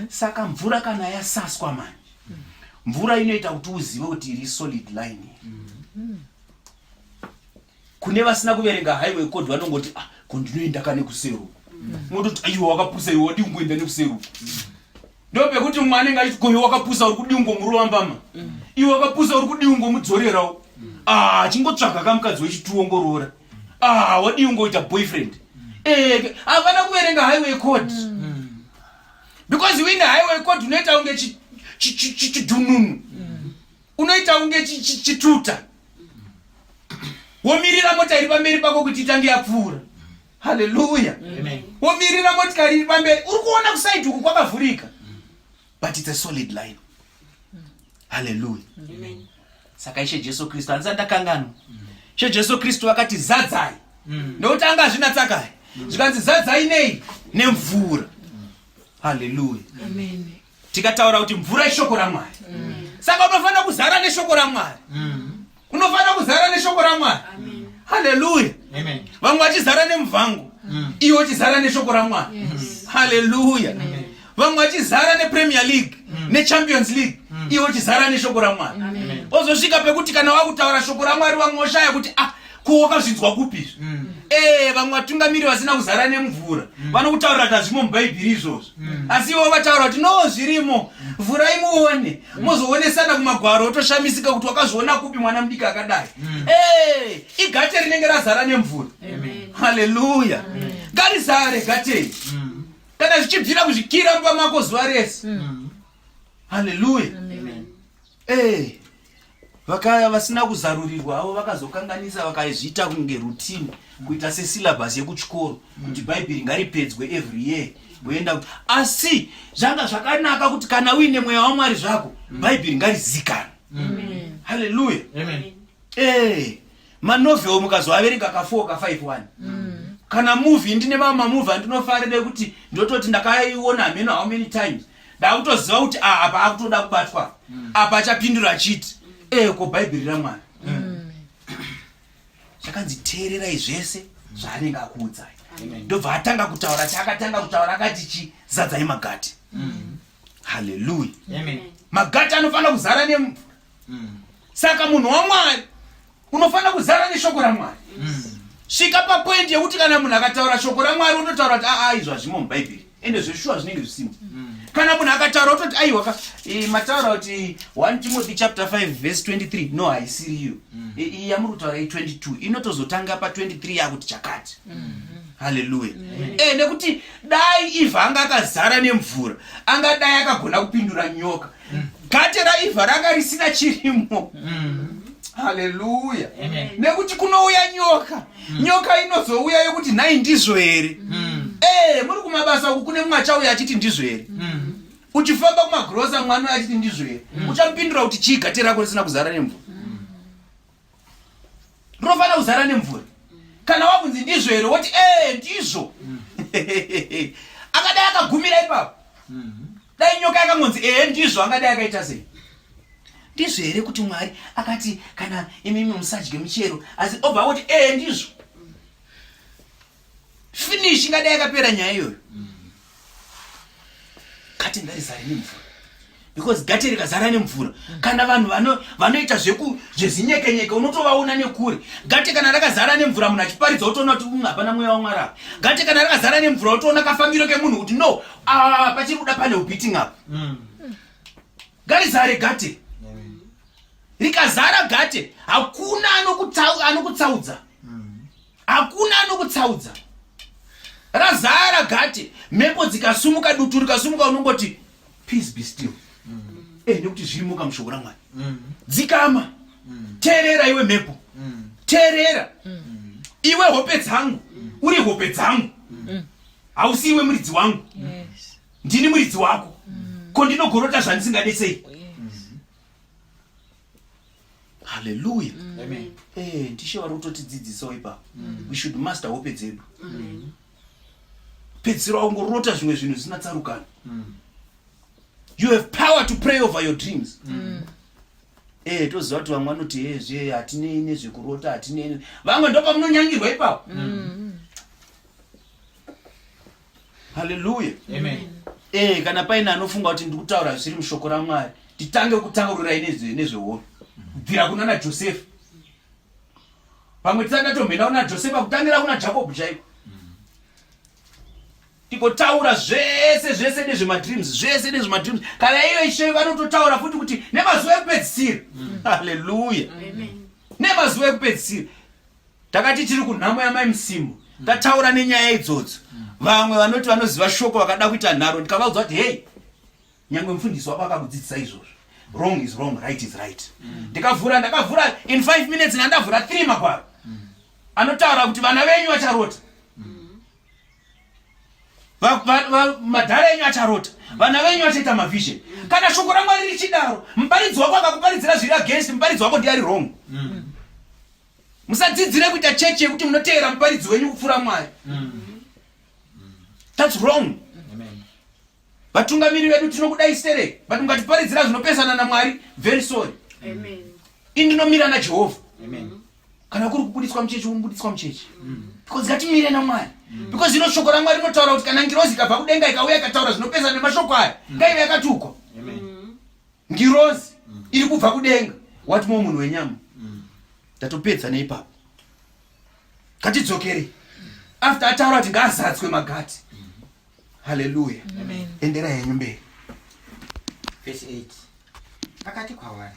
saka mvura kana yasaswa mani mvura inoita kuti uzive kuti iri solid line mm. kune vasina kuverenga highway code vanongoti ah ko ndinoenda ka nekusero mototi mm. aiwa wakapusa iwe wadii kungoenda nekusero mm. ndo pekuti mumwe anenge achiti koiwe wakapusa uri kudii ungomurova mbama mm. iwe wakapusa uri kudii ungomudzorerawo ah chingotsvaga ka mukadzi wechituwo ngoroora ah wadii ungoita boyfriend eh, havana eh, kuverenga highway code because wine highway code unoita kunge chidununu unoita kunge chituta womirira mota iri pamberi pako kuti itange yapfuura haleluya womirira motikari iri pamberi uri kuona kusaidi uku kwakavhurika but its a solid line haleluya saka ishe jesu kristu handisa ndakanganwa ishe jesu kristu vakati zadzai mm. nokuti anga azvinatsakai zvikanzi zadzai nei nemvura haleluya Tikataura kuti mvura ishoko raMwari. Mm. Saka unofanira kuzara neshoko raMwari. Mm. Unofanira kuzara neshoko raMwari. Amen. Hallelujah. Amen. Vamwe vachizara nemvangu. Mm. Iwe uchizara neshoko raMwari. Yes. Hallelujah. Amen. Vamwe vachizara nePremier League, mm. neChampions League. Mm. Iwe uchizara neshoko raMwari. Amen. Ozosvika pekuti kana wakutaura shoko raMwari vamwe voshaya kuti ah ko wakazvinzwa kupi izvi mm. ee eh, vamwe vatungamiri vasina kuzara nemvura mm. vanokutaurira tazvimo mubhaibhiri izvozvo mm. asi ivo vataura kuti no zvirimo vhurai muone mm. mozoonesana kumagwaro otoshamisika kuti wakazviona kupi mwana mudiki akadai mm. hey, eh, igate rinenge razara nemvura haleluya ngarizare gatei mm. kana zvichibvira kuzvikira mumba mako zuva rese mm. haleluya mm. Eh, vakaya vasina kuzarurirwa avo vakazokanganisa vakaizviita kunge routine kuita sesyllabus yekuchikoro kuti bhaibheri ngaripedzwe every year voenda asi zvanga zvakanaka kuti kana uine mweya wamwari zvako bhaibheri ngarizikanwe haleluya ee eh, manovel mukazoaverenga ka 4 ka 5 1 mm. kana movie ndine mamwe mamovie andinofarira kuti ndototi ndakaiona hameno how many times ndakutoziva kuti ah, apa akutoda kubatwa mm. apa achapindura achiti mm. eh, ko bhaibheri ramwana mm. zvakanzi teererai zvese zvaanenge akuudzai ndobva atanga kutaura chaakatanga kutaura akati chi zadzai magati mm. haleluya magati anofanira kuzara nemvura mm. saka munhu wamwari unofanira kuzara neshoko ramwari mm. svika papoindi yekuti kana munhu akataura shoko ramwari unotaura kuti aa ah, ah, izvo hazvimo mubhaibheri ende zveshuwa zvinenge zvisimo mm. kana munhu akataura utoti aiwa ka eh, mataura kuti 1 timothy chapter 5 verse 23 no haisiri iyo mm. eh, iyi yamuri kutaura i22 inotozotanga pa 23 yakuti chakati mm-hmm. haleluya e nekuti dai ivha anga akazara nemvura angadai akagona kupindura nyoka gate raiva ranga risina chirimo haleluya nekuti kunouya nyoka nyoka inozouya yokuti nhai ndizvo here ee muri kumabasa uku kune mumwe achauya achiti ndizvo here uchifamba kumagrosa mwana uya achiti ndizvo here uchamupindura kuti chii gate rako risina kuzara nemvura rinofanira kuzara nemvura kana wakunzi ndizvo here woti ee eh, ndizvo mm. akadai akagumira ipapo mm-hmm. dai nyoka yakangonzi ee eh, ndizvo angadai akaita sei ndizvo here kuti mwari akati kana imimi musadye michero asi obva woti ee eh, ndizvo finish ingadai yakapera nyaya iyoyo gate ngarizare nemvura because gate rikazara nemvura kana vanhu vanoita zvezinyekenyeke unotovaona nekure gate kana rakazara nemvura munhu achiparidza utoona kuti mm, hapana mweya wamwari apa gate kana rakazara nemvura utoona kafambiro kemunhu kuti no ah, pachiri kuda pane ubeating apa mm. ngarizare gate rikazara gate hakuna anokutsaudza hakuna anokutsaudza razara gate mhepo dzikasumuka dutu rikasumuka unongoti peace be still mm. eh, nekuti zvirimuka mushoko ramwari mm. dzikama mm. teerera iwe mhepo mm. teerera mm. iwe hope dzangu mm. uri hope dzangu mm. hausi iwe muridzi wangu mm. yes. ndini muridzi wako mm. ko ndinogorota zvandisingade sei haleluya mm. eh, ndishe vari kutotidzidzisawo ipapo mm. we should master hope dzedu mm. pedzisira wangorota zvimwe zvinhu zvisina tsarukano mm. you have power to pray over your dreams mm. Eh, toziva kuti vamwe vanoti ezve eh, hatinei nezvekurota hatinei vamwe ndopamunonyangirwa ipapo mm. haleluya ee eh, kana paine anofunga kuti ndikutaura zviri mushoko ramwari titange kutaurirai nezvehono kubvira kuna najosefa pamwe tisati atomhena kuna josefa kutangira kuna jakobho chaiko tikotaura zvese zvese nezvemadreams zvese nezvemadreams kana iyo ishe vanototaura futi kuti nemazuva ekupedzisira mm. haleluya nemazuva ekupedzisira Takati tiri kunhamo yamai Msimu mm. tataura nenyaya idzodzo mm. vamwe vanoti vanoziva shoko vakada kuita nharo ndikavaudza kuti hei nyangwe mufundisi wako akakudzidzisa izvozvo wrong is wrong right is right mm. ndikavhura mm. ndakavhura in five minutes nandavhura three magwaro mm. anotaura kuti vana venyu vacharota mm. madhara enyu acharota mm. vana venyu vachaita mavision mm. kana shoko ramwari richidaro muparidzi wako akakuparidzira zviri against muparidzi wako ndiari wrong mm. musadzidzire kuita chechi yekuti munoteera muparidzi wenyu kupfuura mwari mm-hmm. thats wrong vatungamiri vedu tinokudai sere but mukatiparidzira zvinopesana namwari very sorry indinomira najehovha kana kuri kubudiswa muchechi unobudiswa muchechi mm. because ngatimire namwari mm. because zvino shoko ramwari rinotaura kuti kana ngirozi ikabva kudenga ikauya ikataura zvinopesana nemashoko aya mm. ngaive yakatukwa ngirozi mm. iri kubva kudenga wati mo munhu wenyama mm. ndatopedza neipapo ngatidzokere after ataura kuti ngaazadzwe magati haleluya endera henyu mberi vese 8 akati kwavari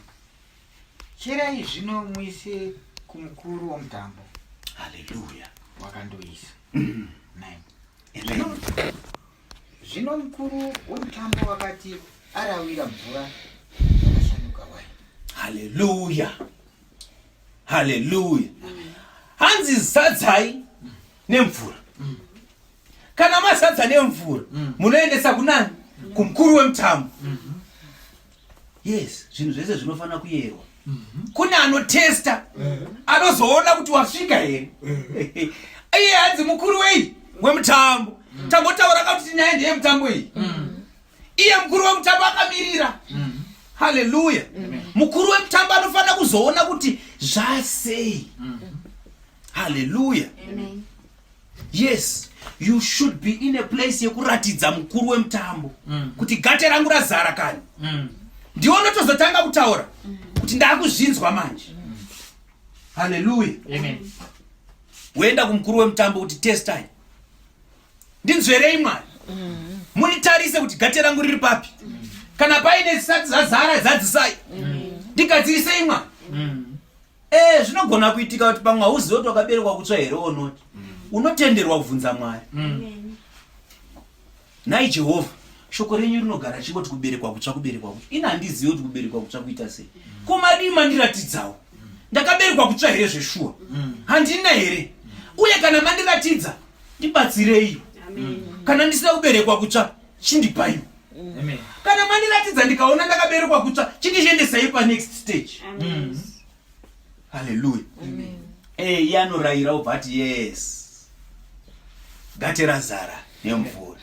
cherai zvino muise kumukuru womutambo haleluya wakandoisa Zvino mukuru wemutambo wakati arawira mvura yakashanduka waini. Haleluya. Haleluya. Hanzi zadzai nemvura. Mm. Kana mazadza nemvura mm. munoendesa kunani? Kumukuru wemutambo. Mm. yes zvinhu zvese zvinofanira kuyerwa mhm. kune anotesta eh. anozoona kuti wasvika here eh. iye hanzi mukuru wei wemutambo mm. tambotaura ka kuti nyaya ndeye mutambo iyi mm. iye mukuru wemutambo akamirira mm. haleluya mukuru wemutambo anofanira kuzoona kuti zvasei haleluya yes you should be in a place yekuratidza mukuru wemutambo mm. kuti gate rangu razara kani mm. ndiwo ndotozotanga kutaura mm. kuti ndakuzvinzwa manje mm. haleluya woenda kumukuru wemutambo kuti testai ndinzverei mwari mm. munditarise kuti gate rangu riri papi mm. kana paine zisati zazara zadzisai mm. ndigadzirisei mwari mm. Eh, zvinogona kuitika kuti pamwe hauzive kuti wakaberekwa kutsva here onoti mm. unotenderwa kubvunza mwari mm. nhai jehovha shoko renyu rinogara chingoti kuberekwa kutsva kuberekwa kutsva ini handizive kuti kuberekwa kutsva kuita sei mm. ko madii mandiratidzawo ndakaberekwa kutsva here zveshuwa handina here uye kana mandiratidza ndibatsirei kana ndisina kuberekwa kutsva chindipaiwo mm. kana mandiratidza ndikaona ndakaberekwa kutsva chindizviendesai panext stage mm. haleluya eh, iye anorayira obva ati yes gate razara nemvura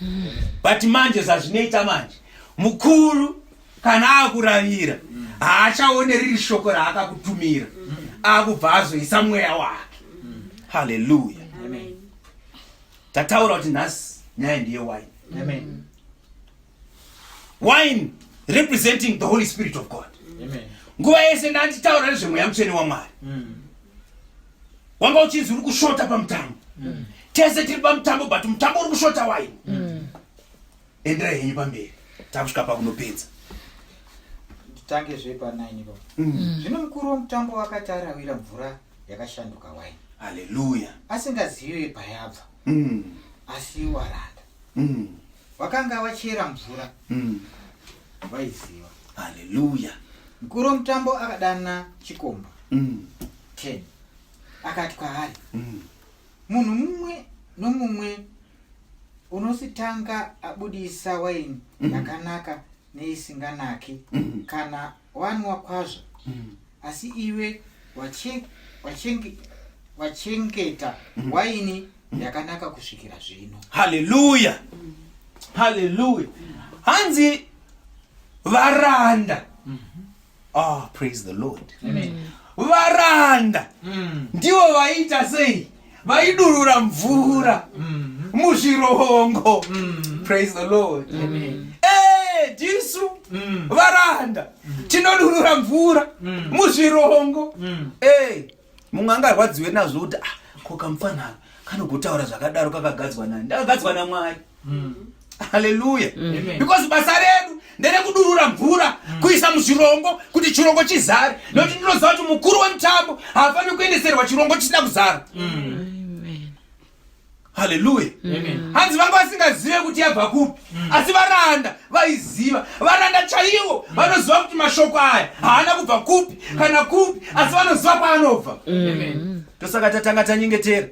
but manje zazvinoita manje mukuru kana akuravira haachaone riri shoko raakakutumira akubva azoisa mweya wake haleluya tataura kuti nhasi nyaya ndiye wine Amen. wine representing the holy spirit of god Amen. nguva yese ndanditaura nezvemweya mutsvene wamwari Mm. wanga uchinzi uri kushota pamutambo tese tiri pamutambo but mutambo uri kushota wine endera henyu pamberi takusvika pakunopedza Titange zvepa 9 ipapo. Zvino mukuru womutambo wakati arawira mvura yakashanduka waini haleluya asingazive payabva mm. asi waranda mm. vakanga vachera mvura mm. vaiziva haleluya mkuru womutambo akadana chikomba mm. ten akati kwaari mm. munhu mumwe nomumwe unositanga abudisa waini mm. yakanaka mm. neisinganaki mm. kana wanwa kwazvo mm. asi iwe wachengeta mm. waini mm. yakanaka kusvikira zvino haleluya mm. haleluya hanzi varanda mm -hmm. oh, praise the lord Amen. varanda mm. ndivo vaita sei vaidurura mvura mm-hmm. muzvirongo mm-hmm. praise the lord mm-hmm. eh, tisu varanda tinodurura mvura muzvirongo eh, mumwe angarwadziwe nazvo kuti ah, ko kamfanaka kanogotaura zvakadaro kakagadzwa nani ndakagadzwa namwari mm. haleluya mm. because basa redu nderekudurura mvura mm. kuisa muzvirongo kuti chirongo chizare mm. nokuti ndinoziva kuti mukuru wemutambo haafaniri kuendeserwa chirongo chisina kuzara mm haleluya hanzi vanga vasingazive kuti yabva kupi mm. asi varanda vaiziva varanda chaivo mm. vanoziva kuti mashoko aya haana kubva kupi mm. kana kupi asi vanoziva kwaanobva ndosaka tatanga tanyengetera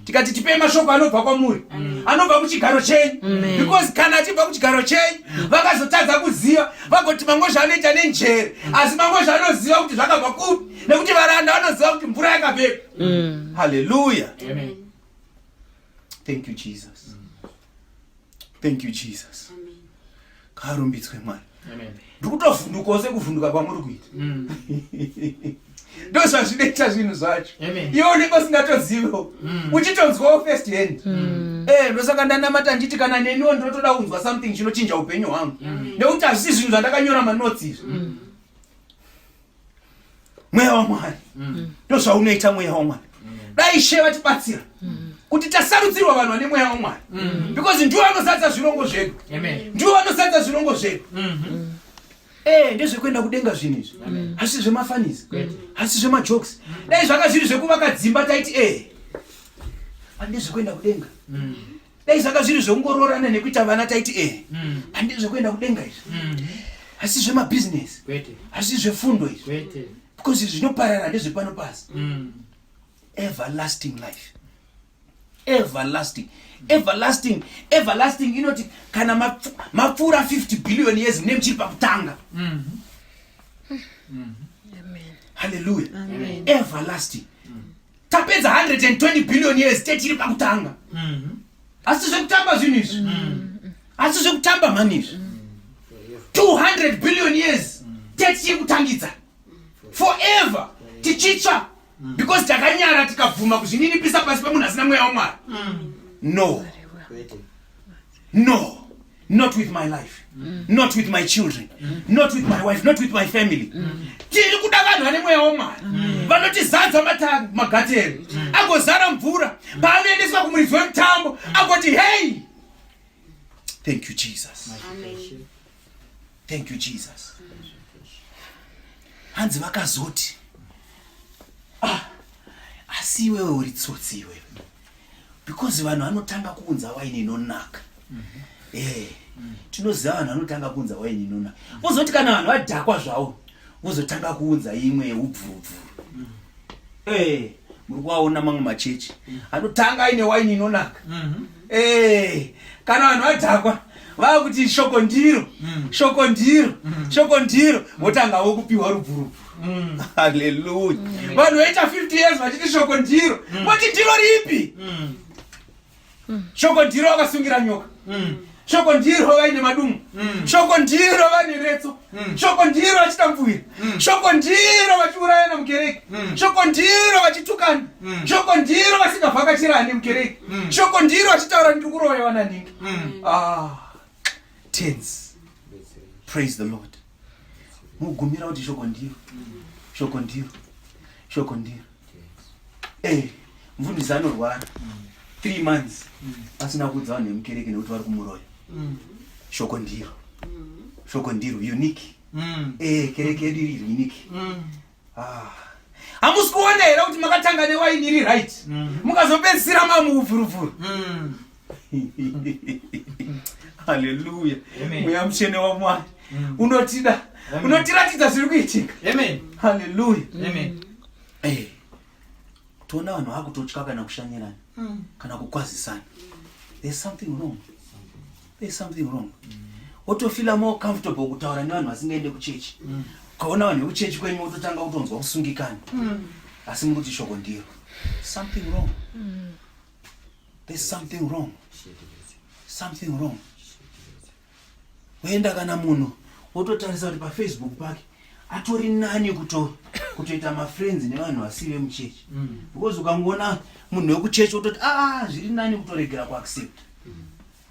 tikati tipei mashoko anobva kwamuri anobva kuchigaro chenyu because kana achibva kuchigaro chenyu vakazotadza kuziva vagoti mamwe zvaanoita nenjere asi mamwe zvaanoziva kuti zvakabva kupi nekuti varanda vanoziva kuti mvura yakabepa haleluya thank you jesus thank you jesus ngaarumbidzwe mwari ndiri kutovhundukawo sekuvhunduka kwamuri kuita mm. ndo zvazvinoita zvinhu zvacho iwe unenge usingatozivewo mm. uchitonzwawo first hand mm. eh, ndosaka ndanamata nditi kana neniwo ndinotoda kunzwa something chinochinja upenyu hwangu nekuti hazvisi zvinhu zvandakanyora manotsi izvi mweya wamwari mm. ndozvaunoita mweya wamwari mm. dai she vatibatsira mm. kuti tasarudzirwa vanhu vane mweya wamwari because ndiwo anozadza zvirongo zvedu ndiwo anozadza zvirongo zvedu mm-hmm. eh, ndezvekuenda kudenga zvinhu izvi hasi zvemafanisi hasi zvemajokes dai zvanga zviri zvekuvaka dzimba taiti e eh, andezvekuenda kudenga dai zvanga zviri zvekungoroorana nekuita vana taiti e mm. handi zvekuenda kudenga izvi mm. asi zvemabhizinesi asi zvefundo izvi because zvinoparara ndezvepano pasi mm. everlasting life everlasting everlasting everlasting inoti kana mapfuura 50 billion years mune muchiri pakutanga halleluya everlasting tapedza 120 billion years techiri pakutanga mm. asi zvekutamba zvinhu izvi mm. asi zvekutamba mhani izvi mm. 200 billion years tetichiri kutangidza forever tichitsva because takanyara tikabvuma kuzvininipisa pasi pemunhu asina mweya wamwari no no not with my life mm. not with my children mm. not with my wife not with my family mm. tiri kuda vanhu vane mweya womwana mm. vanotizadza matangi magatero mm. agozara mvura mm. paanoendeswa kumuridzi wemutambo mm. agoti hey thank you jesus Amen. thank you jesus hanzi vakazoti ah, asi iwewe uri tsotsi iwewe because vanhu vanotanga kuunza waini inonaka mm -hmm. eh, mm -hmm. tinoziva vanhu vanotanga kuunza waini inonaka mm -hmm. ozoti kana vanhu vadhakwa zvavo vozotanga kuunza imwe yeubvurubvuru mm -hmm. eh, muri kuvaona mamwe machechi mm -hmm. anotanga aine waini inonaka mm -hmm. eh, kana vanhu vadhakwa vava kuti shoko ndiro mm. shoko ndiro mm. shoko ndiro mm. votanga mm. vokupiwa rubvurubvu Mm. Hallelujah. Mm. Vanhu vaita 50 years vachiti shoko ndiro. Mm. Moti ndiro ripi? Mm. Mm. Shoko ndiro vakasungira nyoka. Mm. Shoko ndiro vaine madumu. Mm. Shoko ndiro vane retso. Mm. Shoko ndiro vachitambuvira. Mm. Shoko ndiro vachiuraya na mukereke. Mm. Shoko ndiro vachitukana. Mm. Shoko ndiro vasingavhakachira ani mukereke. Mm. Shoko ndiro vachitaura ndiri kuroya vana ndingi. Mm. Ah. Tense. Praise the Lord. mugumira kuti shoko ndiro shoko ndiro shoko ndiro eh mfundisi anorwara three months asina kuudza vanhu vemukereke nekuti vari kumuroya shoko ndiro shoko ndiro unique eh kereke yedu iri unique Ah. Hamusi kuona here kuti makatanga newaini iri right mm. mukazopedzisira mamuvhuruvhuru mm. haleluya mweya mutsvene wamwari mm. unotida unotiratidza zviri kuitika haleluya eh. toona vanhu vakutotya kana kushanyirana kana kukwazisana there's something wrong there's something wrong wotofila more comfortable kutaura nevanhu vasingaende kuchechi mm. ukaona vanhu vekuchechi kwenyu wototanga kutonzwa kusungikana mm. asi muri kuti shoko ndiro something wrong mm. there's something wrong something wrong woenda kana munhu wototarisa kuti pafacebook pake atori nani kuto kutoita mafriends nevanhu vasi vemuchechi because ukangoona munhu wekuchechi wototi aa ah, zviri nani kutoregera kuaccept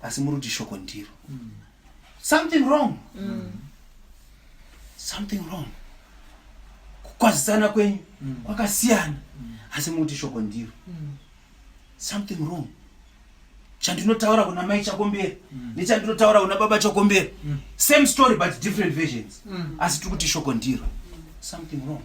asi muri kuti shoko ndiro mm. something wrong mm. something wrong kukwazisana kwenyu mm. kwakasiyana mm. asi muri kuti shoko ndiro mm. something wrong chandinotaura kuna mai chakombera mm. nechandinotaura kuna baba chakombera mm. same story but different versions mm. asi tiri kuti shoko ndiro something wrong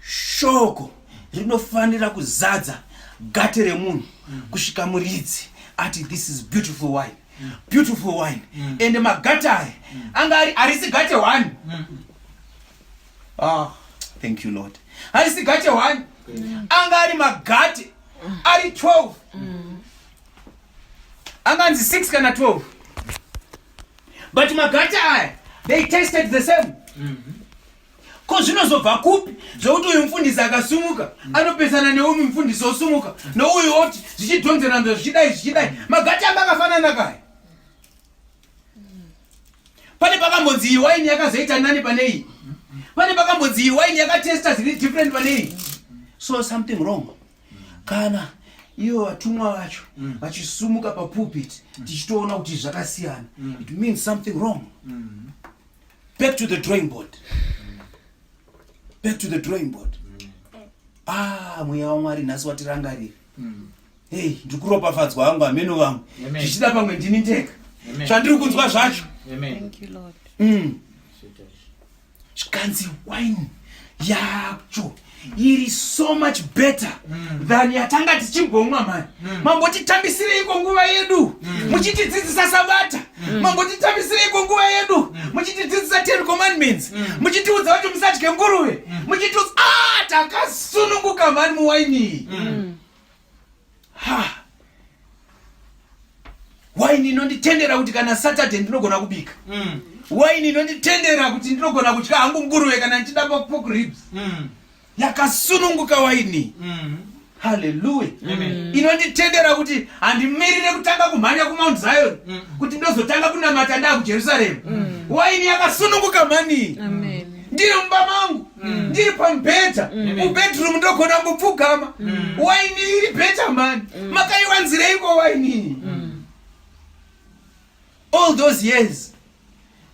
shoko rinofanira kuzadza gate remunhu mm. kusvika muridzi ati this is beautiful wine mm. beautiful wine mm. ende magate aya mm. anga ari harisi gate one mm. ah, thank you lord harisi gate one mm. anga ari magate mm. ari 12 mm. anganzi 6 kana 12 but magate aya they tested the same mm -hmm. ko zvinozobva kupi zvekuti uyu mufundisi akasumuka anopesana neumi mufundisi osumuka nouyu oti zvichidhonzeranzwa zvichidai zvichidai magati anga akafanana kaya pane pakambonzi iyi waini yakazoita nani pane iyi pane pakambonzi iyi waini yakatesta zviri different pane iyi so something wrong kana ivo vatumwa vacho mm. vachisumuka papulpit mm. tichitoona kuti zvakasiyana mm. it means something wrong mm. back to the drawing board back to the drawing board ah mweya wamwari nhasi watirangarira mm. hey ndiri kuropafadzwa vangu hameno vangu zvichida pamwe ndini ndega zvandiri kunzwa zvacho mm. zvikanzi wine yacho iri so much better mm. than yatanga tichimbomwa mani mm. mambotitambisireiko nguva yedu mm. muchitidzidzisa sabata mm. mambotitambisireiko nguva yedu mm. muchitidzidzisa ten commandments mm. muchitiudza kuti musadye nguruve mm. muchitiudza ah, takasununguka mani muwaini mm. ha waini inonditendera kuti kana saturday ndinogona kubika mm. waini inonditendera kuti ndinogona kutya hangu nguruve kana ndichida pork ribs mm. yakasununguka waini mm. haleluya mm. inonditendera kuti handimirire kutanga kumhanya kumount zion mm. kuti ndozotanga kunamata ndaa kujerusalemu mm. waini yakasununguka mani Amen. ndiri mumba mangu mm. ndiri pamubhedha mm. mubedroom ndogona kupfugama mm. waini iri bheta mani makaiwanzireiko wainii all those years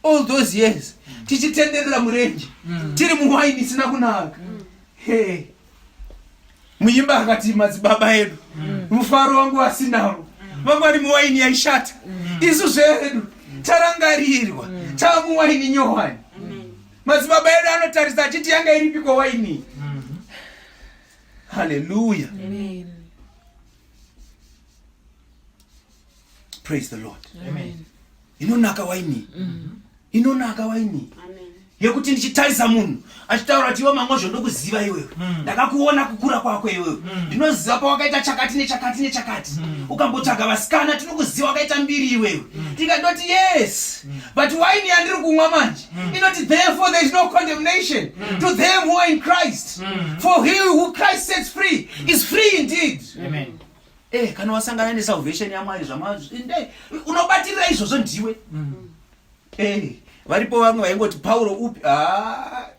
all those years tichitenderera murenje tiri muwaini isina kunaka hey. muimba akati madzibaba edu mm. mufaro wangu asinavo mm. vamwari muwaini yaishata mm. isu zvedu tarangarirwa tamuwaini nyowani madzibaba edu anotarisa achiti yanga iripiko waini haleluya praise the lord inonaka waini mhm. inonaka waini yekuti ndichitarisa munhu achitaura kuti iwe mamwe zvondokuziva iwewe mm. ndakakuona kukura kwako iwewe mm. ndinoziva pawakaita chakati nechakati nechakati mm. ukambotsvaga vasikana tinokuziva wakaita mbiri iwewe ndikatoti yes but waini yandiri kumwa manje inoti therefore there is no condemnation to them who are in christ for he who christ sets free is free indeed Amen. Eh, kana wasangana nesalvation yamwari zvamainde unobatirira izvozvo ndiwe mm. eh, varipo vamwe vaingoti pauro upi ah,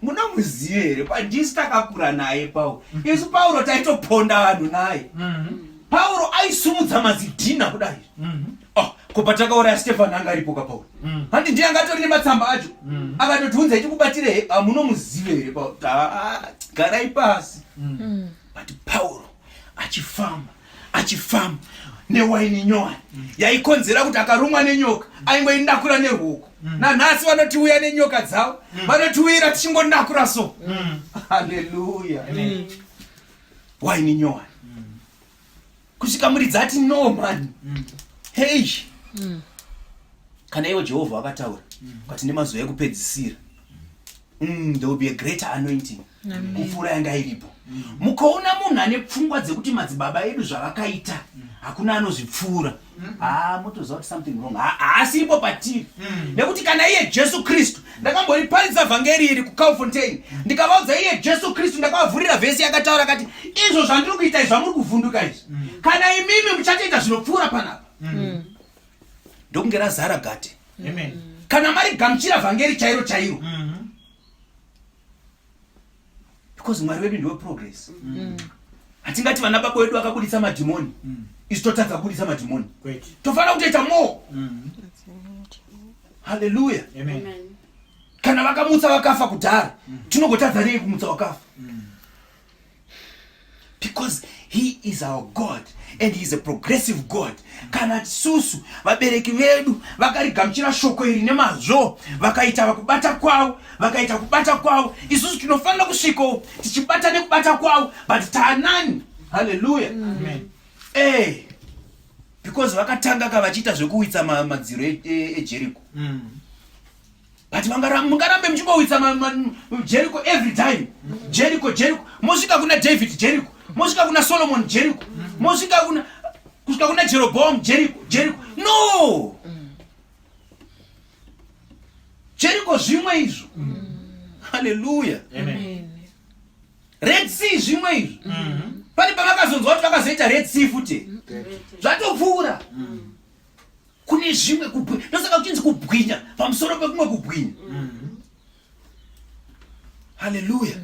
munomuziva here pandisi takakura naye pauro mm. isu pauro taitoponda vanhu naye mm-hmm. pauro aisumudza mazidhina kudai mm-hmm. ah, ko patakauraya stefani anga aripo ka pauro mm. handi ndiye anga atori nematsamba acho mm. akatotiunza itikubatire ah, munomuziva here pauro ah, garai pasi but pauro achifamba achifamba newaini nyowani mm. yaikonzera kuti akarumwa nenyoka mm. aingoinakura neruoko mm. nanhasi vanotiuya nenyoka dzavo vanotiuyira tichingonakura so haleluya waini nyowani kusvika muri dzati no mani hei kana ivo jehovha vakataura but nemazuva ekupedzisira there will be a greater anointing kupfuura yanga iripo mm. mukaona munhu ane pfungwa dzekuti madzibaba edu zvavakaita mm. hakuna anozvipfuura mm. haa ah, motoziva kuti something wrong haasi ipo patiri nekuti kana iye jesu kristu ndakamboriparidza vhangeri iri kucalfontain ndikavaudza iye jesu kristu ndakavavhurira vhesi yakataura kati izvo zvandiri kuita izvi zvamuri kuvhunduka izvi kana imimi muchatoita zvinopfuura panapa ndokunge razara gate kana mari gamuchira vhangeri chairo chairo because mwari wedu ndiwe progress mm. hatingati vana baba wedu vakabuditsa madhimoni mm. isu totadza kubuditsa madhimoni tofanira kutoita more mm. haleluya kana vakamutsa vakafa kudhara tinogotadza nei kumutsa wakafa because he is our god and he is a progressive god kana tisusu vabereki vedu vakarigamuchira shoko iri nemazvo vakaita vakubata kwavo vakaita kubata kwavo isusu tinofanira kusvikawo tichibata nekubata kwavo but taanani halleluya eh because vakatanga ka vachiita zvekuwitsa madziro ejericho e, e mm. but mungarambe muchingowitsa jeriko every time jeriko jeriko mosvika kuna david jeriko mosvika kuna solomon jeriko mosvika kuna kusvika kuna jeroboam jeriko jeriko no jeriko zvimwe izvo haleluya red sea zvimwe izvo mm-hmm. pane pavakazonzwa kuti vakazoita red sea futi zvatopfuura mm. kune zvimwe kubwinya ndosaka kuchinzi kubwinya pamusoro pekumwe kubwinya mm-hmm. haleluya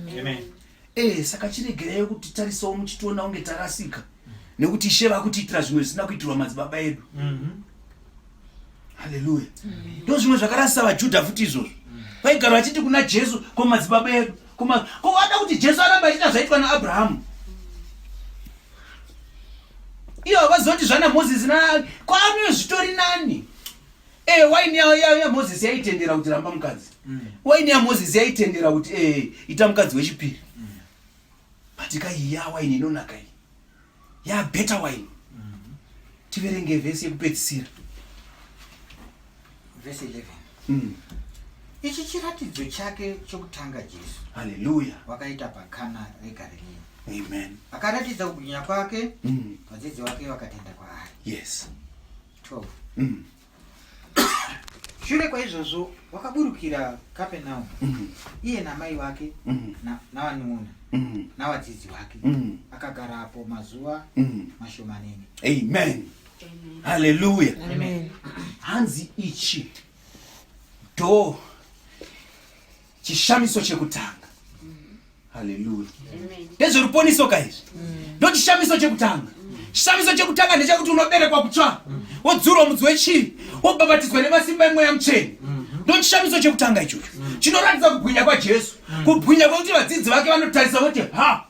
ee saka chiregereyo kuti tarisawo muchitiona kunge tarasika nekuti ishe vakutiitira zvimwe zvisina kuitirwa madzibaba edu mm-hmm. haleluya ndo zvimwe zvakarasisa vajudha futi izvozvo vaigara vachiti kuna jesu ko madzibaba edu Kuma ko wada kuti Jesu arambe achiita zvaitwa naAbrahamu? Iyo havazoti zvana Moses na kwaano zvitori nani? Eh waini ya, ya, ya Moses yaitendera kuti ramba mukadzi. Mm. Waini ya Moses yaitendera kuti eh ita mukadzi wechipiri. Mm. Patika iya waini inonaka iyi. ya better wine tiverenge vhesi yekupedzisira vhesi 11 mm. ichi chiratidzo chake chokutanga jesu haleluya wakaita pakana regariliya amen akaratidza kugwinya kwake mm. vadzidzi mm. wake vakatenda kwaari yes 12 mm. shure kwaizvozvo wakaburukira kapenau mhm. iye namai wake mhm. navanun'una mhm. navadzidzi wake akagarapo mazuva mashomanene amen haleluya hanzi ichi do chishamiso chekutanga haleluya ndezveruponiso kaizvi ndo chishamiso chekutanga chishamiso chekutanga ndechekuti unoberekwa kutsva wodzurwa mudzi wechii wobhabhatidzwa nemasimba emweya mucheni ndo chishamiso chekutanga ichocho chinoratidza kubwinya kwajesu kubwinya kwekuti vadzidzi vake vanotarisa voti ha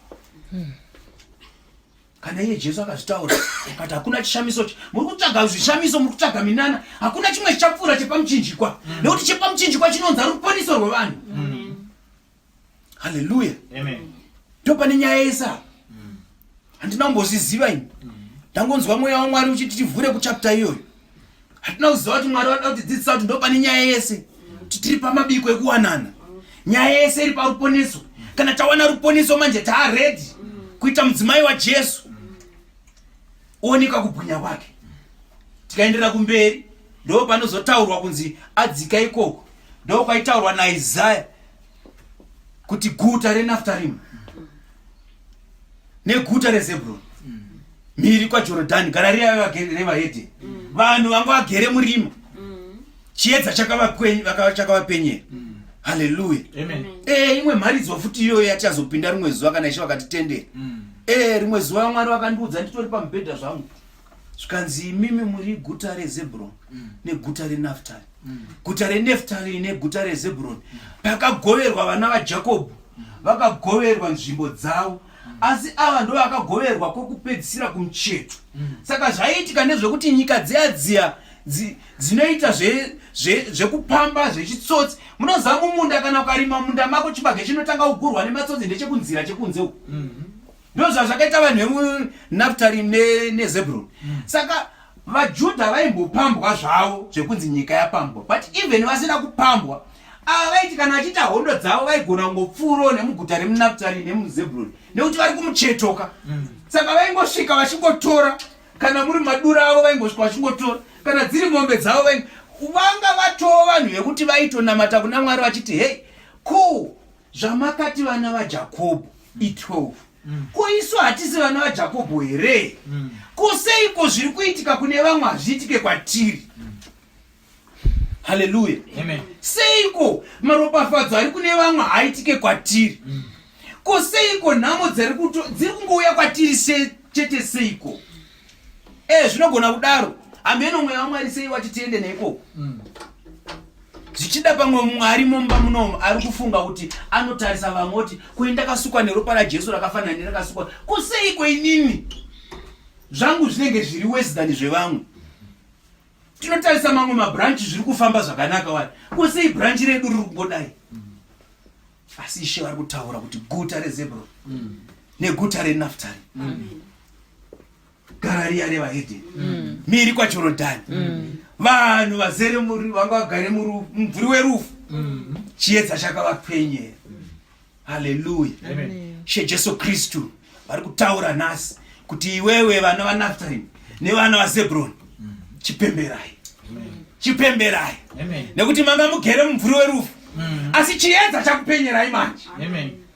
kana iye jesu akazvitaura akati hakuna chishamiso ch muri kutsvaga zvishamiso muri kutsvaga minana hakuna chimwe chichapfuura chepamuchinjikwa mm. nekuti chepamuchinjikwa chinonzi ari ruponiso rwevanhu mm. halleluya ndo pane nyaya yese apa mm. handina kumbozviziva ini ndangonzwa mweya wamwari uchiti tivhure kuchapta iyoyo hatina kuziva kuti mwari vada kutidzidzisa kuti ndo pane nyaya yese kuti tiri pamabiko ekuwanana nyaya yese iri paruponiso kana tawana ruponiso manje taaredi kuita mudzimai wajesu ooneka kubwinya kwake tikaenderera kumberi ndo panozotaurwa kunzi adzika ikoko ndo kwaitaurwa naizaya kuti guta renaftarima neguta rezebroni mhiri kwajorodhani gara riya revahedheni vanhu vanga vagere murima chiedza chakavapenyera haleluya eh, imwe mharidzo futi iyoyo yatichazopinda rimwe zuva kana ishe vakatitendera mm. eh, rimwe zuva mwari vakandiudza nditori pamubhedha zvangu zvikanzi imimi muri guta rezebhuroni mm. neguta renaftari mm. guta reneftari neguta rezebhuroni mm. pakagoverwa vana vajakobho vakagoverwa nzvimbo dzavo asi ava ndo vakagoverwa kwokupedzisira kumucheto saka zvaiitika nezvekuti nyika dziya dziya dzinoita zvekupamba zvechitsotsi munoziva mumunda kana ukarima munda mako chibage chinotanga kugurwa nematsotsi ndechekunzira chekunze uku mm-hmm. ndozvazvakaita vanhu vemunaftari nezebron mm. saka vajudha vaimbopambwa zvavo zvekunzi nyika yapambwa but even vasina kupambwa ava vaiti kana vachiita hondo dzavo vaigona kungopfuuro nemuguta remunaftari nemuzebron nekuti vari kumuchetoka mm. saka vaingosvika vachingotora kana muri madura avo vaingosvika vachingotora kana dziri mombe dzavo vanga vatoo vanhu vekuti vaitonamata kuna mwari vachiti hei cool zvamakati vana vajakobho mm. i12 mm. ko isu hatisi vana vajakobho here mm. ko seiko zviri kuitika kune vamwe hazviitike kwatiri haleluya seiko maropafadzo ari kune vamwe haaitike kwatiri ko seiko nhamo dziri kungouya kwatiri chete seiko Eh, zvinogona kudaro. Ameno mweya waMwari sei wati tiende neikoko. Mm. zvichida pamwe mumwe ari mumba munomu ari kufunga kuti anotarisa vamwe kuti koi ndakasukwa neropa rajesu rakafanira nerakasukwa kuseiko inini zvangu zvinenge zviri wesi than zvevamwe tinotarisa mamwe mabranchi zviri kufamba zvakanaka wani kusei branchi redu riri kungodai asi ishe vari kutaura kuti guta rezebro mm. neguta renaftari mm. garariya revahedheni mm. miri kwajorodhani mm. vanhu mm. vazere vanga vagare mumvuri werufu mm. chiedza chakavapenyera mm. haleluya she jesu kristu vari kutaura nhasi kuti iwewe vana vanaftarim nevana vazebroni chipemberai chipemberai nekuti manga mugere mumvuri werufu mm. asi chiedza chakupenyerai manje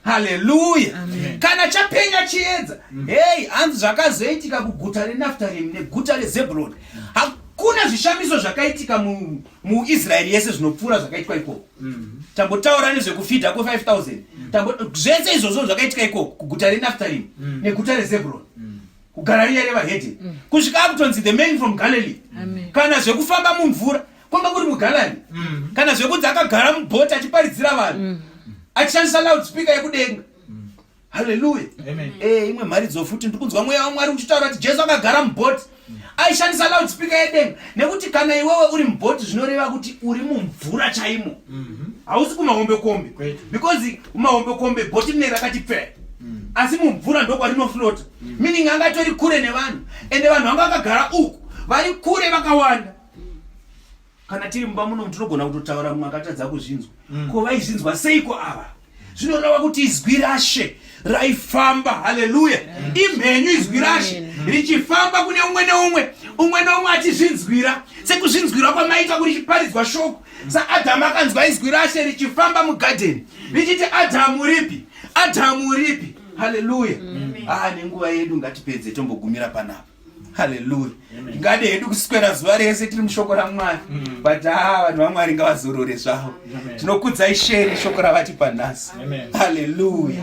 haleluya kana chapenya chiedza mm. hei hanzi zvakazoitika kuguta renaftarim neguta rezebroni hakuna zvishamiso zvakaitika mu muisraeri yese zvinopfuura zvakaitwa ikoko mm. tambotaura nezvekufidha ko 5000 mm. zvese izvozvo zvakaitika ikoko kuguta renaftarimi mm. neguta rezebron kugara riya revahedhe kusvika akutonzi the man from galilee kana zvekufamba mumvura kwanga kuri mugalani kana zvekunzi akagara mubhoti achiparidzira vanhu achishandisa loud speaker yekudenga haleluya eh, imwe mharidzo futi ndiri kunzwa mweya wamwari uchitaura kuti jesu akagara mubhoti aishandisa loud speaker yedenga nekuti kana iwewe uri mubhoti zvinoreva kuti uri mumvura chaimo mhm. hausi kumahombekombe because kumahombekombe bhoti rine rakati pfee mm. asi mumvura ndokwarinoflota mm. meaning anga atori kure nevanhu ende vanhu vanga vakagara uku vari kure vakawanda kana tiri mumba muno tinogona kutotaura mumwe akatadza kuzvinzwa mm. ko vaizvinzwa seiko ava zvinoreva kuti izwi rashe raifamba haleluya imhenyu izwi rashe richifamba kune umwe neumwe umwe neumwe achizvinzwira sekuzvinzwira kwamaita kuri chiparidzwa shoko saadhamu akanzwa izwi rashe richifamba mugadheni richiti adhamu ripi adhamu ripi haleluya aa ah, nenguva yedu ngatipedze tombogumira panapa haleluya tingade hedu kuswera zuva rese tiri mushoko ramwari mm. but haa ah, vanhu vamwari ngavazorore zvavo tinokudzai sheri shoko ravatipa nhasi haleluya